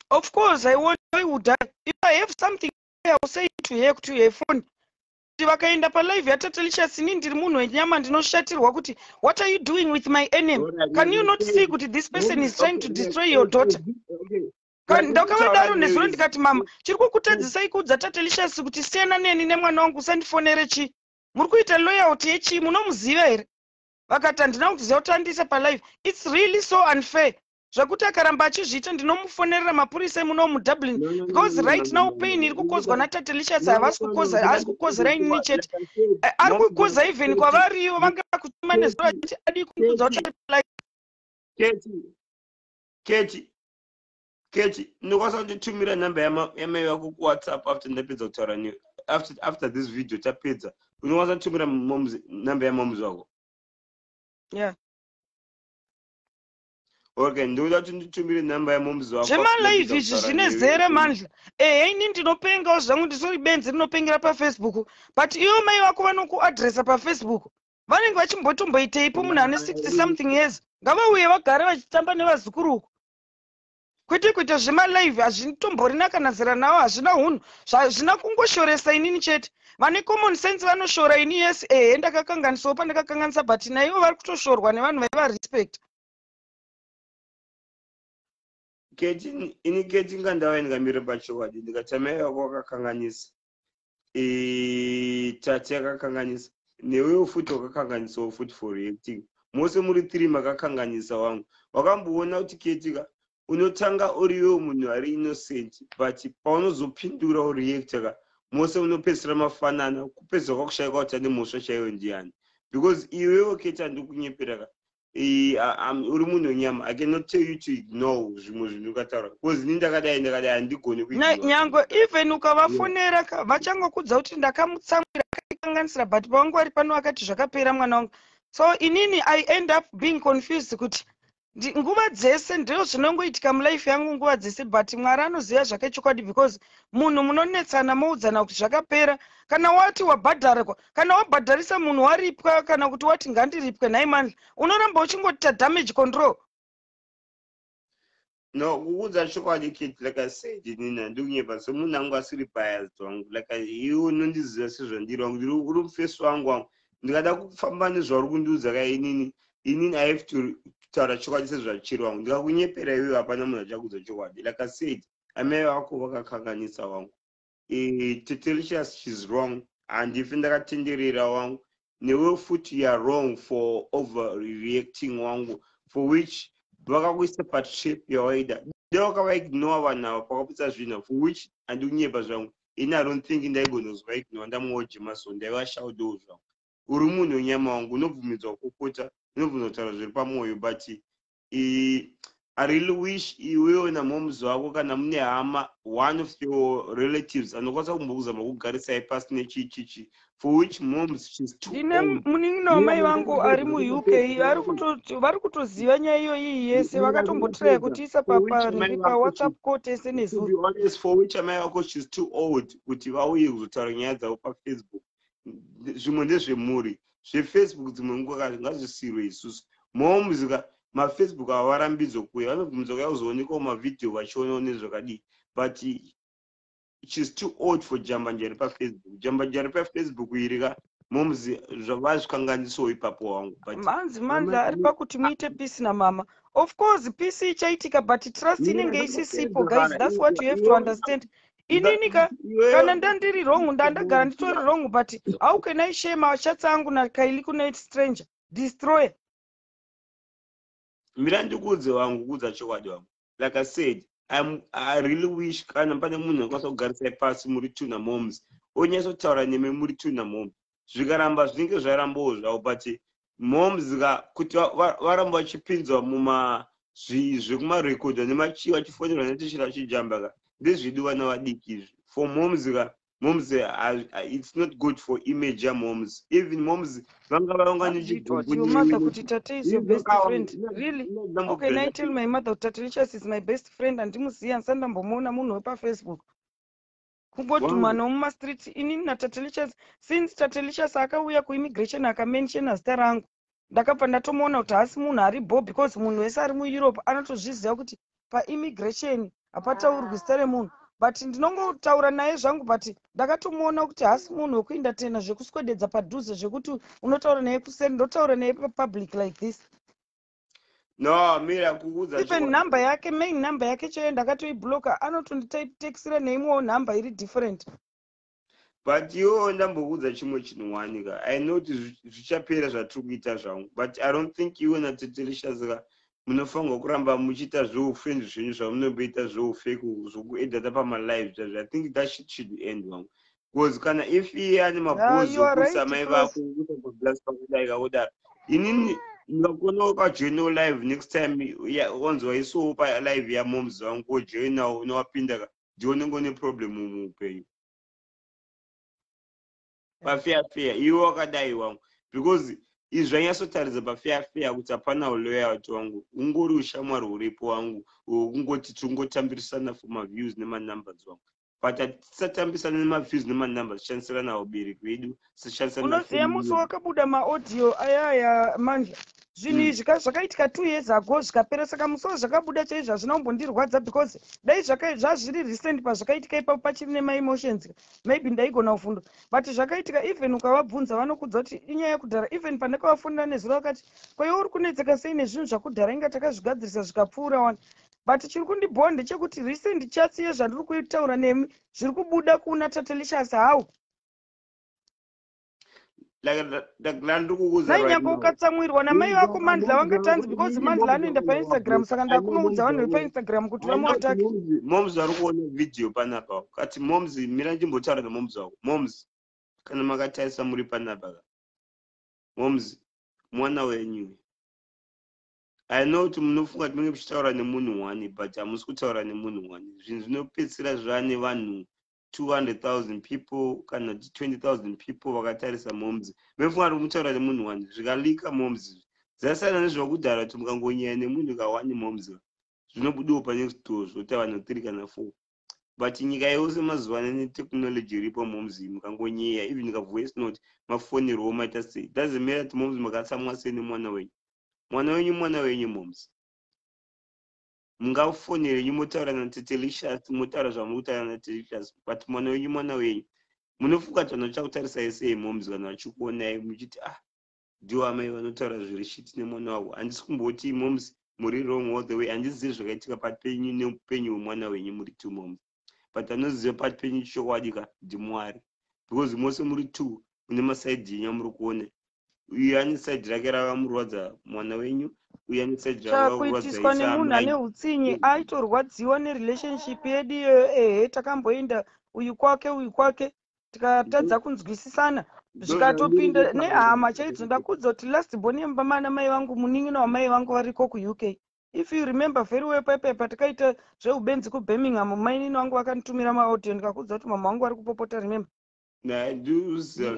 of course i want i would die. if i have something i will say to her kuti her phone kuti vakaenda palive yatatalicious ini ndiri munhu wenyama ndinoshatirwa kuti what are you doing with my enemy can you not see kuti this person is trying to destroy your daughter ndakavadaro nezuro ndikati mama chiri kukutadzisai kuudza tatalicious kuti siyana neni nemwana wangu usandifonere chii muri kuita loyalty yechii munomuziva here vakati handina kuziva kuti andiise palive its really so unfair zvekuti akaramba achizviita ndinomufonerera mapurisa emuno mudublin because right now pain iri kukozwa natatelicious havasi kukoza haasi kukozera inini chete eh, ari kukoza even kwavariyo vanga kutuma nezuro vachiti adii kumuudza kuti kechi Keti, ndokwanisa kunditumira number yamai vako kuwhatsapp after ndapedza kutaura newe after, after this video tapedza unokwanisa kunditumira number yamoms vako yeah okay ndinoda kuti nditumire number yamoms vako zvemalive izvi zvine zere mandla ehe ini ndinopengawo zvangu ndisori benzi rinopengera pafacebook but iwo mai vako vanokuadressa pafacebook vanenge vachimbotomboiteipo munhu ane 60 something years ngavauye vagare vachitamba nevazukuru uku kwete kuita zvemalive hazvitomborina kana zera nawo hazvina hunhu zvazvina kungoshoresa inini chete vane common sense vanoshora ini yes ehe ndakakanganisawo pandakakanganisa but naivo vari kutoshorwa nevanhu vaivarespecta keti ini keti ngandava ndingamire pachowadi ndikatsamira yako wakakanganisa eh, chachi yakakanganisa newewo futi wakakanganisawo futi for reacting mose muri three makakanganisa wangu wakamboona kuti ketika unotanga uriwewo munhu ari innocent but paunozopindura ureacta ka mose unopedzisira mafanana kupedzisa kwakushaika kuti ane mhosva chaiyo ndiani because iwewo keti andikunyepera ka uri munhu wenyama i cannot tell you to ignore zvimwe zvinhu ukataura bcause ini ndakadai ndakadai handigoni kunyangwe even ukavafonera yeah. vachangokudza kuti ndakamutsamwira akaikanganisira but pawangu ari pano akati zvakapera mwana wangu so inini i end up being confused kuti nguva dzese ndizvo zvinongoitika mulife yangu nguva dzese but mwari anoziva zvake chokwadi because munhu munonetsana moudzana kuti zvakapera kana wati wabhadharwa kana wabhadharisa munhu waripwa kana kuti wati ngandiripwe nhai mani unoramba uchingoita damage control no kuudza chokwadi kit like i said nina ndikunyepa semunhu angu asiri biased wangu like iwe unondiziva sezvandiri wangu ndiri uri mufesi wangu wangu ndikada kufamba nezvauri kundiudza ka inini inini i have to kutaura chokwadi sezvachiri wangu ndikakunyepera iwe hapana munhu achakuudza chokwadi like i said amai vako vakakanganisa wangu eh, tetelicious shes wrong handife ndakatenderera wangu newe futi youare wrong for over reacting wangu for which vakakuisa patrip yawaida dewakavaignore vanhu ava pakaputsa zvinhu for which andikunyepa zvangu ini i don't think ndaigonozwa ignore ndamuojema so ndaivashaudewo zvangu uri munhu wenyama wangu unobvumidzwa kukota unobvunza kutaura zviri pamwoyo but i really wish iwewe namoms wako kana mune hama one of your relatives anokwanisa kumbokuzama kugarisai pasi nechichichi for which moms shes tine munin'ina wamai vangu ari muuk vari kutoziva nyaya iyoyi yese vakatombotiraya kutiisa papariri pawhatsapp ko tese nezuhonest for which amai vako shes too old kuti vauye kuzotaura nyaya dzavo pafacebook zvimwe ndezvemhuri zvefacebook dzimwe nguva ka ngazvisirwe isusu moms ka mafacebook avo varambidzwe kuya vanobvumidza kuya kuzoonekawo mavhidhiyo vachionawo nezvakadii but she's too old for jambanja iri pafacebook jambanja iri pafacebook iri ka moms zvavazvikanganisawo ipapo wangu butmanzi manzi ari pakuti muite peace namama of course peace ichaitika but trust inenge isisipo guys thats what you have to understand inini ka kana ndandiri wrong ndandagara nditori wrong but how can i share machats angu nakaili kunait stranger destroyer mira ndikuudze wangu kuudza chokwadi wangu like i said I'm, i really wish kana pane munhu akwanisa kugarisai pasi muri two namoms onyatsotaura nemi muri two namoms zvikaramba zvinenge zvarambawo zvavo but moms ka kuti varamba vachipinzwa muma zvekumarekodha nemachii vachifonerwa netishira vachijamba ka ndezvedu vana vadiki izvi for moms ka moms eh, it's not good for image ya moms even moms vanga vaonga nechigumbunyimother kuti tate is your best friend really okay nai tell my mother kuti tate richas is my best friend andimuzivi andisati ndambomuona munhu wepafacebook kungotumwa nomumastreet ini natatelicious since tatelicious akauya kuimmigration akamenshena zita rangu ndakabva ndatomuona kuti haasi munhu ari bo because munhu wese ari mueurope anotozviziva kuti paimmigration hapataurwi zita remunhu but ndinongotaura naye zvangu but ndakatomuona kuti haasi munhu wekuinda tena zvekuswededza padhuze zvekuti unotaura naye kuseri ndotaura naye papublic like this no mira kuudza even number yake main number yake chaiyo ndakatoibloka anotonditaxira neimwewo number iri different but yo ndambokuudza chimwe chinhu wanika i know kuti zvichapera zvatiri kuita zvangu but i don't think iwe natetelishazika munofanirwa kuramba muchiita zveufriend zvenyu zvamunomboita zveufeki zvokuedata pamalive zvazvo i think that shit should end wangu because kana if iye ane mabhozi okusa amai vako kusagoblastpakudaika kudaro inini ndingakonawo pajoinawo live next time onzi waisowo palive yamoms vangu kojoinawo unowapinda ka ndionengo neproblem muupenyu pafeya feya iwe wakadai wangu because izvi zvanyatsotaridza pafeya feya kuti hapana uloyalty wangu ungori ushamwari huripo wangu hwekungoti tiri kungotambirisana for maviews nemanumbers wangu but hatisatambisa nemaviews nemanumber zvichanisirana ubiri kwedu unoziva musi wakabuda maaudio ayaya manje zvinhu hmm. izvi ka zvakaitika two years ago zvikapera saka musi wazvakabuda chaizvo hazvina kumbondirwadza because dai zvazviri recent pazvakaitika ipapo pachiri nemaemotions maybe ndaigona kufundo but zvakaitika even ukavabvunza vanokudza kuti inyaya yekudhara even pane kavafonera nezuro vakati kwaiwo uri kunetseka sei nezvinhu zvakudhara inga takazvigadzirisa zvikapfuura wani but chiri kundibhowa ndechekuti recent chats yezvandiri kutaura nemi zviri kubuda kuna tatelicious how nainyaka ukatsamwirwa namai vako mandla vangatanzi because mandla anoenda painstagram saka ndakunoudza vanhu vepainstagram kuti vamuatake moms vari kuona vhidhiyo panapa kati moms mira ndimbotaura nemoms vako moms kana makatarisa muri panapa ka moms mwana wenyu i know kuti munofunga kuti munenge muchitaura nemunhu one but hamusi kutaura nemunhu one zvinhu zvinopedzisira zvaa nevanhu 200,000 people kana 20,000 people vakatarisa moms mefunga kuti mutaura nemunhu one zvikalika moms dzasiyana nezvakudhara kuti mukangonyaya nemunhu kawani moms zvinobudiwo pane zvitoo zvoti vanhu three kana four but nyika yose mazuva ano netechnology iripo moms mukangonyeya even kavoice note mafonerwo maita sei doesn't matter kuti moms makatsamwa sei nemwana wenyu mwana wenyu mwana wenyu moms mungafonere nyu motaura natete licious motaura zvamuri kutaura natete licious but mwana wenyu mwana wenyu munofunga kuti vanhu vachakutarisai sei moms vanhu vachikuonai muchiti ah ndiwo amai vanotaura zviri shiti nemwana wavo handisi kumboti moms muri wrong all the way handizivi zvakaitika pat penyu neupenyu hwemwana wenyu muri two moms but anoziva pati penyu chokwadi ka ndimwari because mose muri two une masaidi yenyu amuri kuona uye ane saidi rake rakamurwadza mwana wenyu uye ane saidi rakuitiswa nemunhu ane utsinye aitorwadziwa nerelationship yedu iyoyo ehe takamboenda uyu kwake uyu kwake tikatadza kunzwisisana zvikatopinda nehama chaidzo ndakudza kuti last born yemubamana mai vangu munin'ina wamai vangu variko kuuk if you remember very well paipai patikaita zveubenzi kubirmingham mainini vangu vakanditumira maaudio ndikakuudza kuti mama vangu vari kupopota remember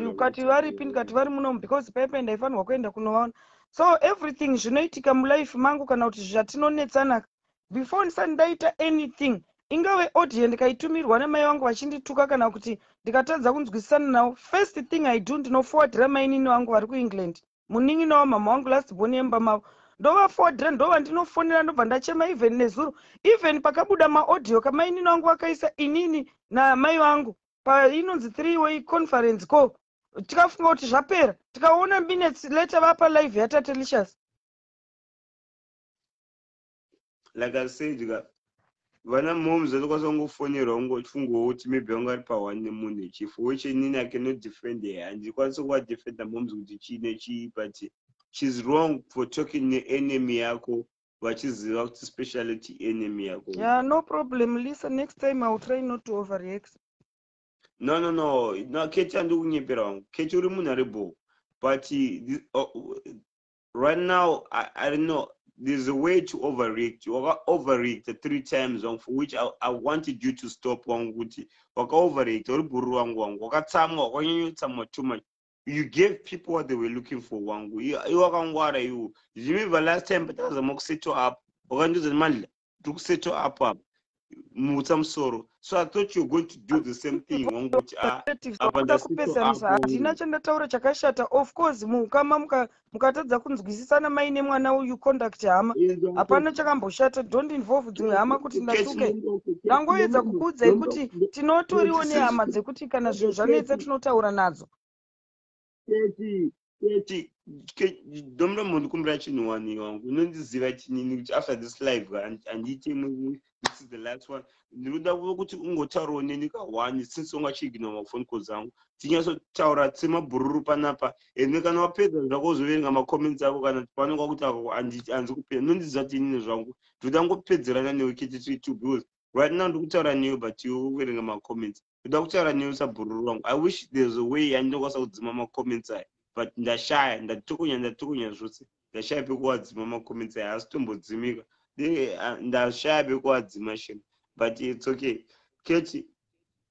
ukati varipi ndikati vari munomu because paipai ndaifanirwa kuenda kunovaona so everything zvinoitika mulife mangu kana kuti zvatinonetsanaka before ndisati ndaita anything ingave audio ndikaitumirwa nemai vangu vachindituka kana kuti ndikatadza kunzwisisana navo first thing i do ndinofowadira mainini vangu vari kuengland munin'ina wamhamha wangu last born yemba mavo ndovafodhira ndova ndinofonera ndobva ndachema even nezuro even pakabuda maaudio kamainini wangu vakaisa inini namai vangu painonzi three way conference ko tikafunga kuti zvapera tikaona minutes later vapa live yatatelicious like i said ka vana moms vanokwanisa kungofonerwa kungofungawo kuti maybe vanga vari pahwani nemunhu chief which inini i cannot defend her handikwanisi kuvadefenda moms kuti chii nechii but she's wrong for talking neenemy yako vachiziva kuti speciality enemy yako yeah no problem lisa next time iwill try not to overreact no no no no keti andikunyepera wangu keti uri munhu ari bho but uh, right now I, I don't know there's a way to overreact waka overreact three times wangu for which I, I wanted you to stop wangu kuti waka overreact uri bhuru wangu wangu wakatsamwa wakanyanyotsamwa too much you gave people what they were looking for wangu iwe wakangwara iwo zvimibva last time patazama kuseto up wakandiudza kuti mandla tiri kuseto apo apo mutsa musoro so i thought you're going to do the same thing wanguti ah, apakuda kupezanisa handina chandataura chakashata of course muukama mukatadza kunzwisisana mai nemwana uyu conduct hama hapana chakamboshata don't involve dzimwe hama kuti ndatuke ndangoedza kukuudzai kuti tinotoriwo nehama dzekuti kana zvinhu zvanetsa tinotaura nadzo Keti, keti, keti, dombo mondikumbira chinhu wani wangu. Unondiziva chinini kuti after this live handiti imwe this is the last one. Ndinoda kuva kuti ungotaurawo neni kahwani since wanga chiigina mafoni calls angu. Tinyasotaura semabhururu panapa. Ende kana wapedza zvako uzoverenga macomments ako kana pano kwakuti ako hanzi kupedza. Unondiziva kuti inini zvangu. Ndinoda ngopedzerana newe keti to because right now ndikutaura newe but you uverenga macomments. ndoda kutaura newe sabhururu wangu i wish there's a way yandinokwanisa kudzima macomments aya but ndashaya ndatokonya ndatokonya zvose ndashaya pekuwadzima macomments aya haasi tombodzimika ndashaya pekuwadzima shem but its okay keti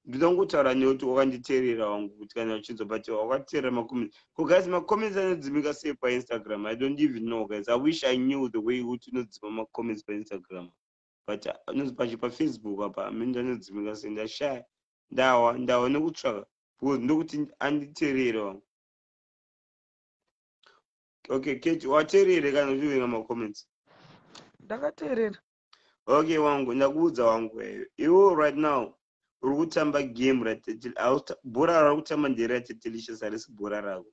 ndoda kungotaura newe kuti wakanditeerera wangu kuti kana uchinzwa but wakatiteerera macomments ko guys macomments anodzimika sei painstagram i don't even know guys i wish i knew the way kuti unodzima macomments painstagram pa but anozi pacho pafacebook apa amene ndanodzimika se ndashaya ndawa ndawa nekutsvaka because ndokuti anditerere wangu okay keti waterere kana uchiverenga macomments ndakaterera okay wangu ndakuudza wangu eyo iwo right now uri kutamba game rabhora rari kutamba ndere ratetelicious harisi bhora rako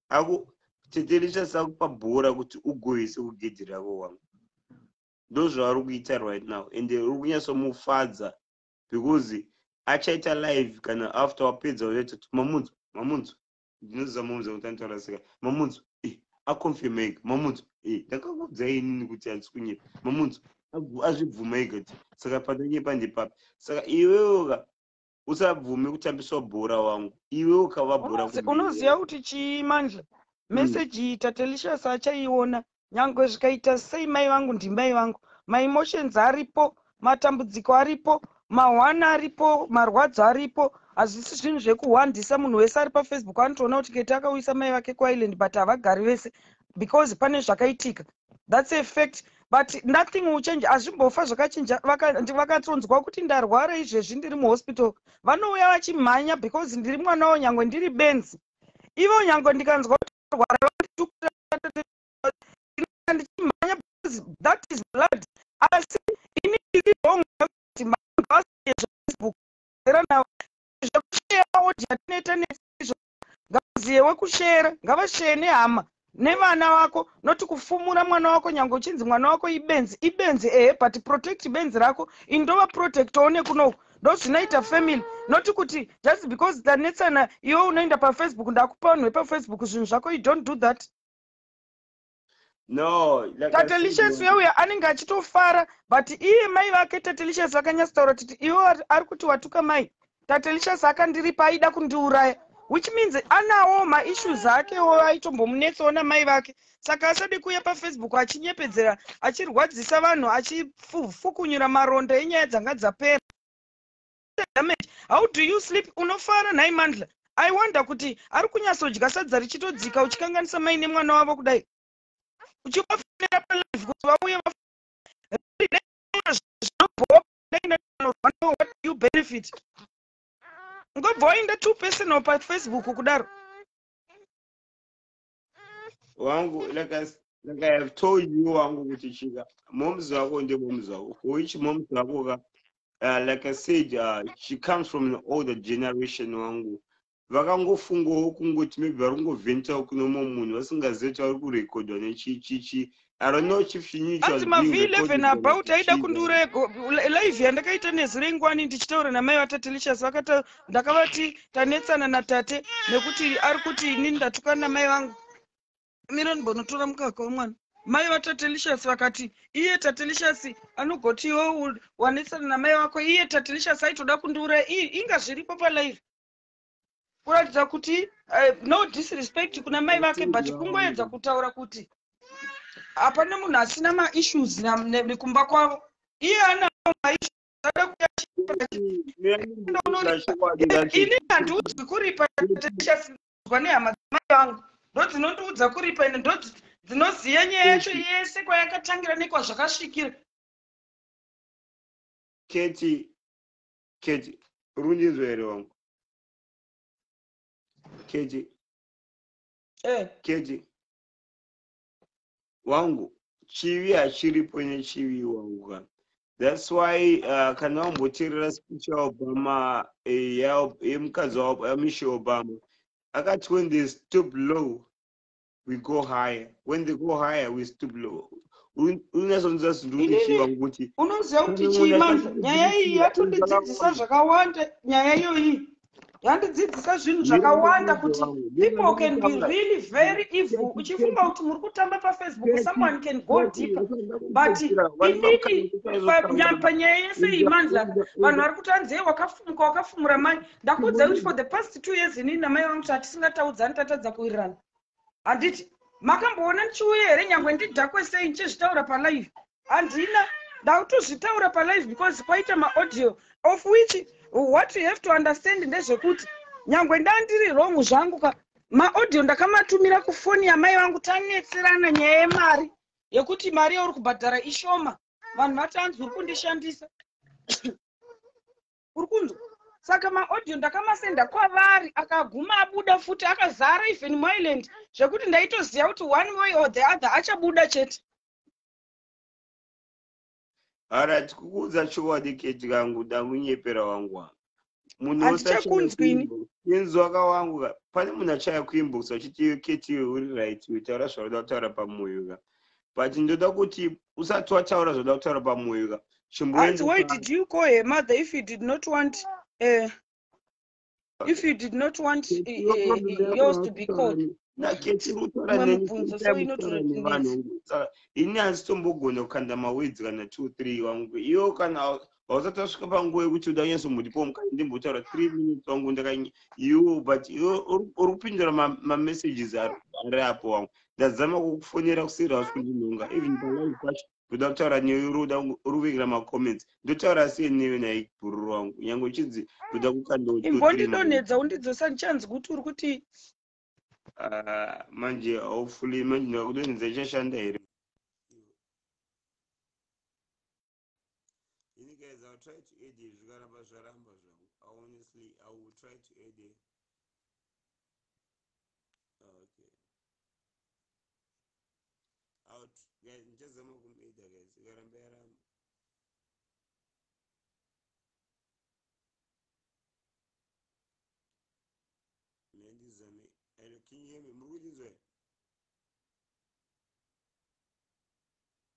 aku tetelicious akupa bhora kuti ugoise kugedhi rako wangu ndozvaari kuita right now and uri kunyatsomufadza because achaita live kana after wapedza uchaita kuti mamudzo mamudzo ndinoziva mamudzo kuti anotaura seka mamudzo eh, aconfirma ega mamudzo eh, ndakakuudza inini kuti handisi kunyepa mamudzo azvibvuma ega kuti saka pandanyepa ndepapi saka iwewoka usabvume kutambiswa bhora wangu iwe ukava bhora unoziva kuti chii manje hmm. meseji iyi tatelicious achaiona nyangwe zvikaita sei mai vangu ndimai vangu maemotions aripo matambudziko aripo mahwana aripo marwadzo aripo hazvisi zvinhu zvekuhwandisa munhu wese ari pafacebook anotoona kuti kete akauyisa mai vake kuisland but havagari vese because pane zvakaitika thats a fact but nothing will change hazvimbofa zvakachinja vakatonzwa vaka kuti ndarwara izvezvi ndiri muhospital vanouya vachimhanya because ndiri mwana wo nyange ndiri benzi ivo nyange ndikanzwa kuti ndarwara vanditukira ndichimhanya because that is blood asi ini ndiri wrong kuti mhanga vasiyezvefacebook era navo zvekushea audio tinoita nezvo ngavaziyewo kushera ngavasheye nehama nevana vako noti kufumura mwana wako nyange uchinzi mwana wako ibenzi ibenzi ehe but protect benzi rako indova protectawo nekunoku ndozvinoita family noti kuti just because tanetsana iwe unoenda pafacebook ndakupa vanhu vepafacebook zvinhu zvako you don't do that no like tatelicious weuya anenge achitofara but iye mai vake tatelicious vakanyatsotaura kuti iwe ari kuti watuka mai tatelicious akandiripa aida kundiuraya which means anawo maissues akewo aitombomunetsawo namai vake saka asade kuuya pafacebook achinyepedzera achirwadzisa vanhu achifukunyura maronda enyaya dzanga dzapera damage how do you sleep unofara nhai mandla i wonder kuti ari kunyatsodya sadza richitodzika uchikanganisa mai nemwana wavo kudai uchivafonera palive kuti vauye you benefit ngobva waenda two personal pafacebook kudaro wangu like I, like I have told you wangu kuti chika moms vako ndemoms vako for which moms vako ka uh, like I said uh, she comes from an older generation wangu vakangofungawo kungoti maybe vari kungovhentawo kune mumwe munhu vasingazive kuti vari kurekodhwa nechichichi I don't know chief Chinyicho Hanzi ma V11 apa kuti aida kundiuraya live yandakaita nezire ngwani ndichitaura namai vatatelicious vakata ndakavati tanetsana natate nekuti ari kuti inini ndatukana namai vangu mira ndimbonotora mukaka wemwana mai vatatelicious vakati iye tatelicious anogoti iwo wanetsana namai vako iye tatelicious aitoda kundiuraya inga zviripo palive kuratidza kuti uh, no disrespect kuna mai vake but kungoedza kutaura kuti hapana munhu asina maissues nekumba kwavo iye ana maissueini handiudzwi kuripa tatichasinzwa nehama dzamai vangu ndo dzinondiudza kuripa ine ndo dzinoziva nyaya yacho yese kwayakatangira nekwazvakasvikira keti kechi uri kundinzwa here wangu kechi eh. kechi wangu chivi hachiripo nechivi wangu kana that's why uh, kana wamboteerera speech yaobama eh, yemukadzi wamishe obama akati when they stop low we go higher when they go higher we stoop low unasoziva zvindiuchichiva kuti unoziva kuti chii manje nyaya iyi yatondidzidzisa zvakawanda nyaya iyoyi yandidzidzisa zvinhu zvakawanda kuti people can be really very evil uchifunga kuti muri kutamba pafacebook someone can go deeper but inini panyaya yese iyi manzlaka vanhu vari kuti anzei wakafumuka wakafumura mai ndakuudzai kuti for the past two years inini namai vangu tatisingataudza tatadza kuwirirana handiti makamboona ndichiuya here nyange ndidhakwe sei ndichizvitaura palive handina ndakutozvitaura palive because kwaita maaudio of which what you have to understand ndezvekuti nyange ndandiri wrong zvangu ka maaudio ndakamatumira kufoni yamai vangu tanetserana nyaya yemari yekuti mari yauri kubhadhara ishoma vanhu vatanzi uri kundishandisa uri kunzwa saka maaudio ndakamasenda kwavari akaguma abuda futi akazara even myland zvekuti ndaitoziva kuti one way or the other achabuda chete arat kukuudza chokwadi keti kangu ndamunyepera wangu wangu munhu handichakunzwini inzwa ka wangu ka pane munhu achaya kuinbox achiti keti uri right taura zvaunoda kutaura pamoyo ka but ndoda kuti usati wataura zvoda kutaura pamwoyo ka chimboanzi why did you call her mother if you did not want uh, if you did not want uh, uh, yours to be called ini hanzitombogona kukanda mawedzi kana two three wangu iyo kana pausati wasvika panguva yekuti uda kunyaso muripo mukati ndimbotaura three minutes wangu ndaka you but uri kupindura mamessages ari apo wangu ndazama kukufonera kuseri hausi kundinhonga even palive kwacho ndoda kutaura newe uri uda uri kuvekera macomments ndotaura sei newe naye bhururu wangu nyange uchinzi ndoda kukandoimbondidonhedza undidzosa ndichanzi kuti uri kuti ah, manje haufuli manje ndakudonhedza ichashanda here ini guys iwill try to add zvikaramba zvaramba zvangu honestly i will try to add okay out guys ndichazama kumuida guys ikaramba yaramba mendizame alo kinyeme muri kuchinzwa here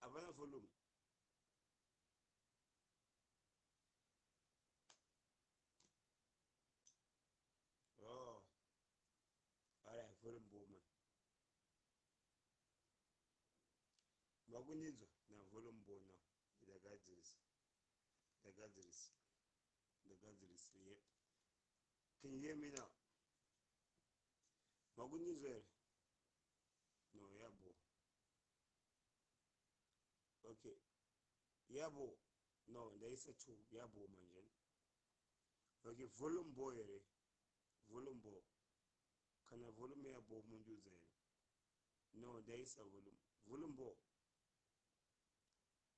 Havana volume. Oh. Alright, volume boma. Vakundinzwa na volume bona. Ndagadzirisa. Ndagadzirisa. ndagadzirisei here can you hear me now makundinzwa here no yabo okay yabo no ndaisa two yabo manje okay volume bo here volume bo kana volume yabo mundiudza here no ndaisa volume volume bo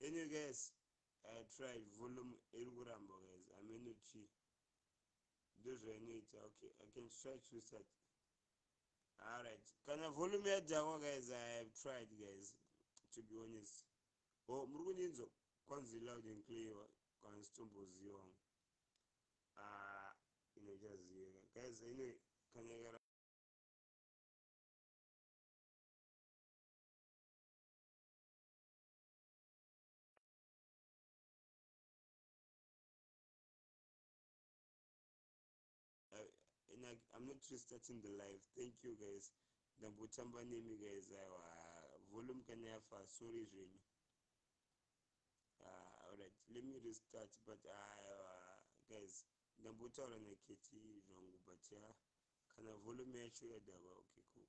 Anyway guys, I tried volume iri kuramba guys, ameno chi ndozvainoita. Okay, I can try to restart. Alright, kana volume yadhakwa guys, I have tried guys, to be honest. Oh, muri kundinzwa kwanzi loud and clear, kana sitomboziva wangu. Ah, inochaziva guys, anyway, kana ikara and I, I'm not restarting the live. Thank you guys. Ndambotamba nemi guys. Aiwa volume kana yafa sorry zvenyu. Ah, alright. Let me restart but aiwa guys. Ndambotaura na Keti zvangu but ya kana volume yacho yadava okay cool.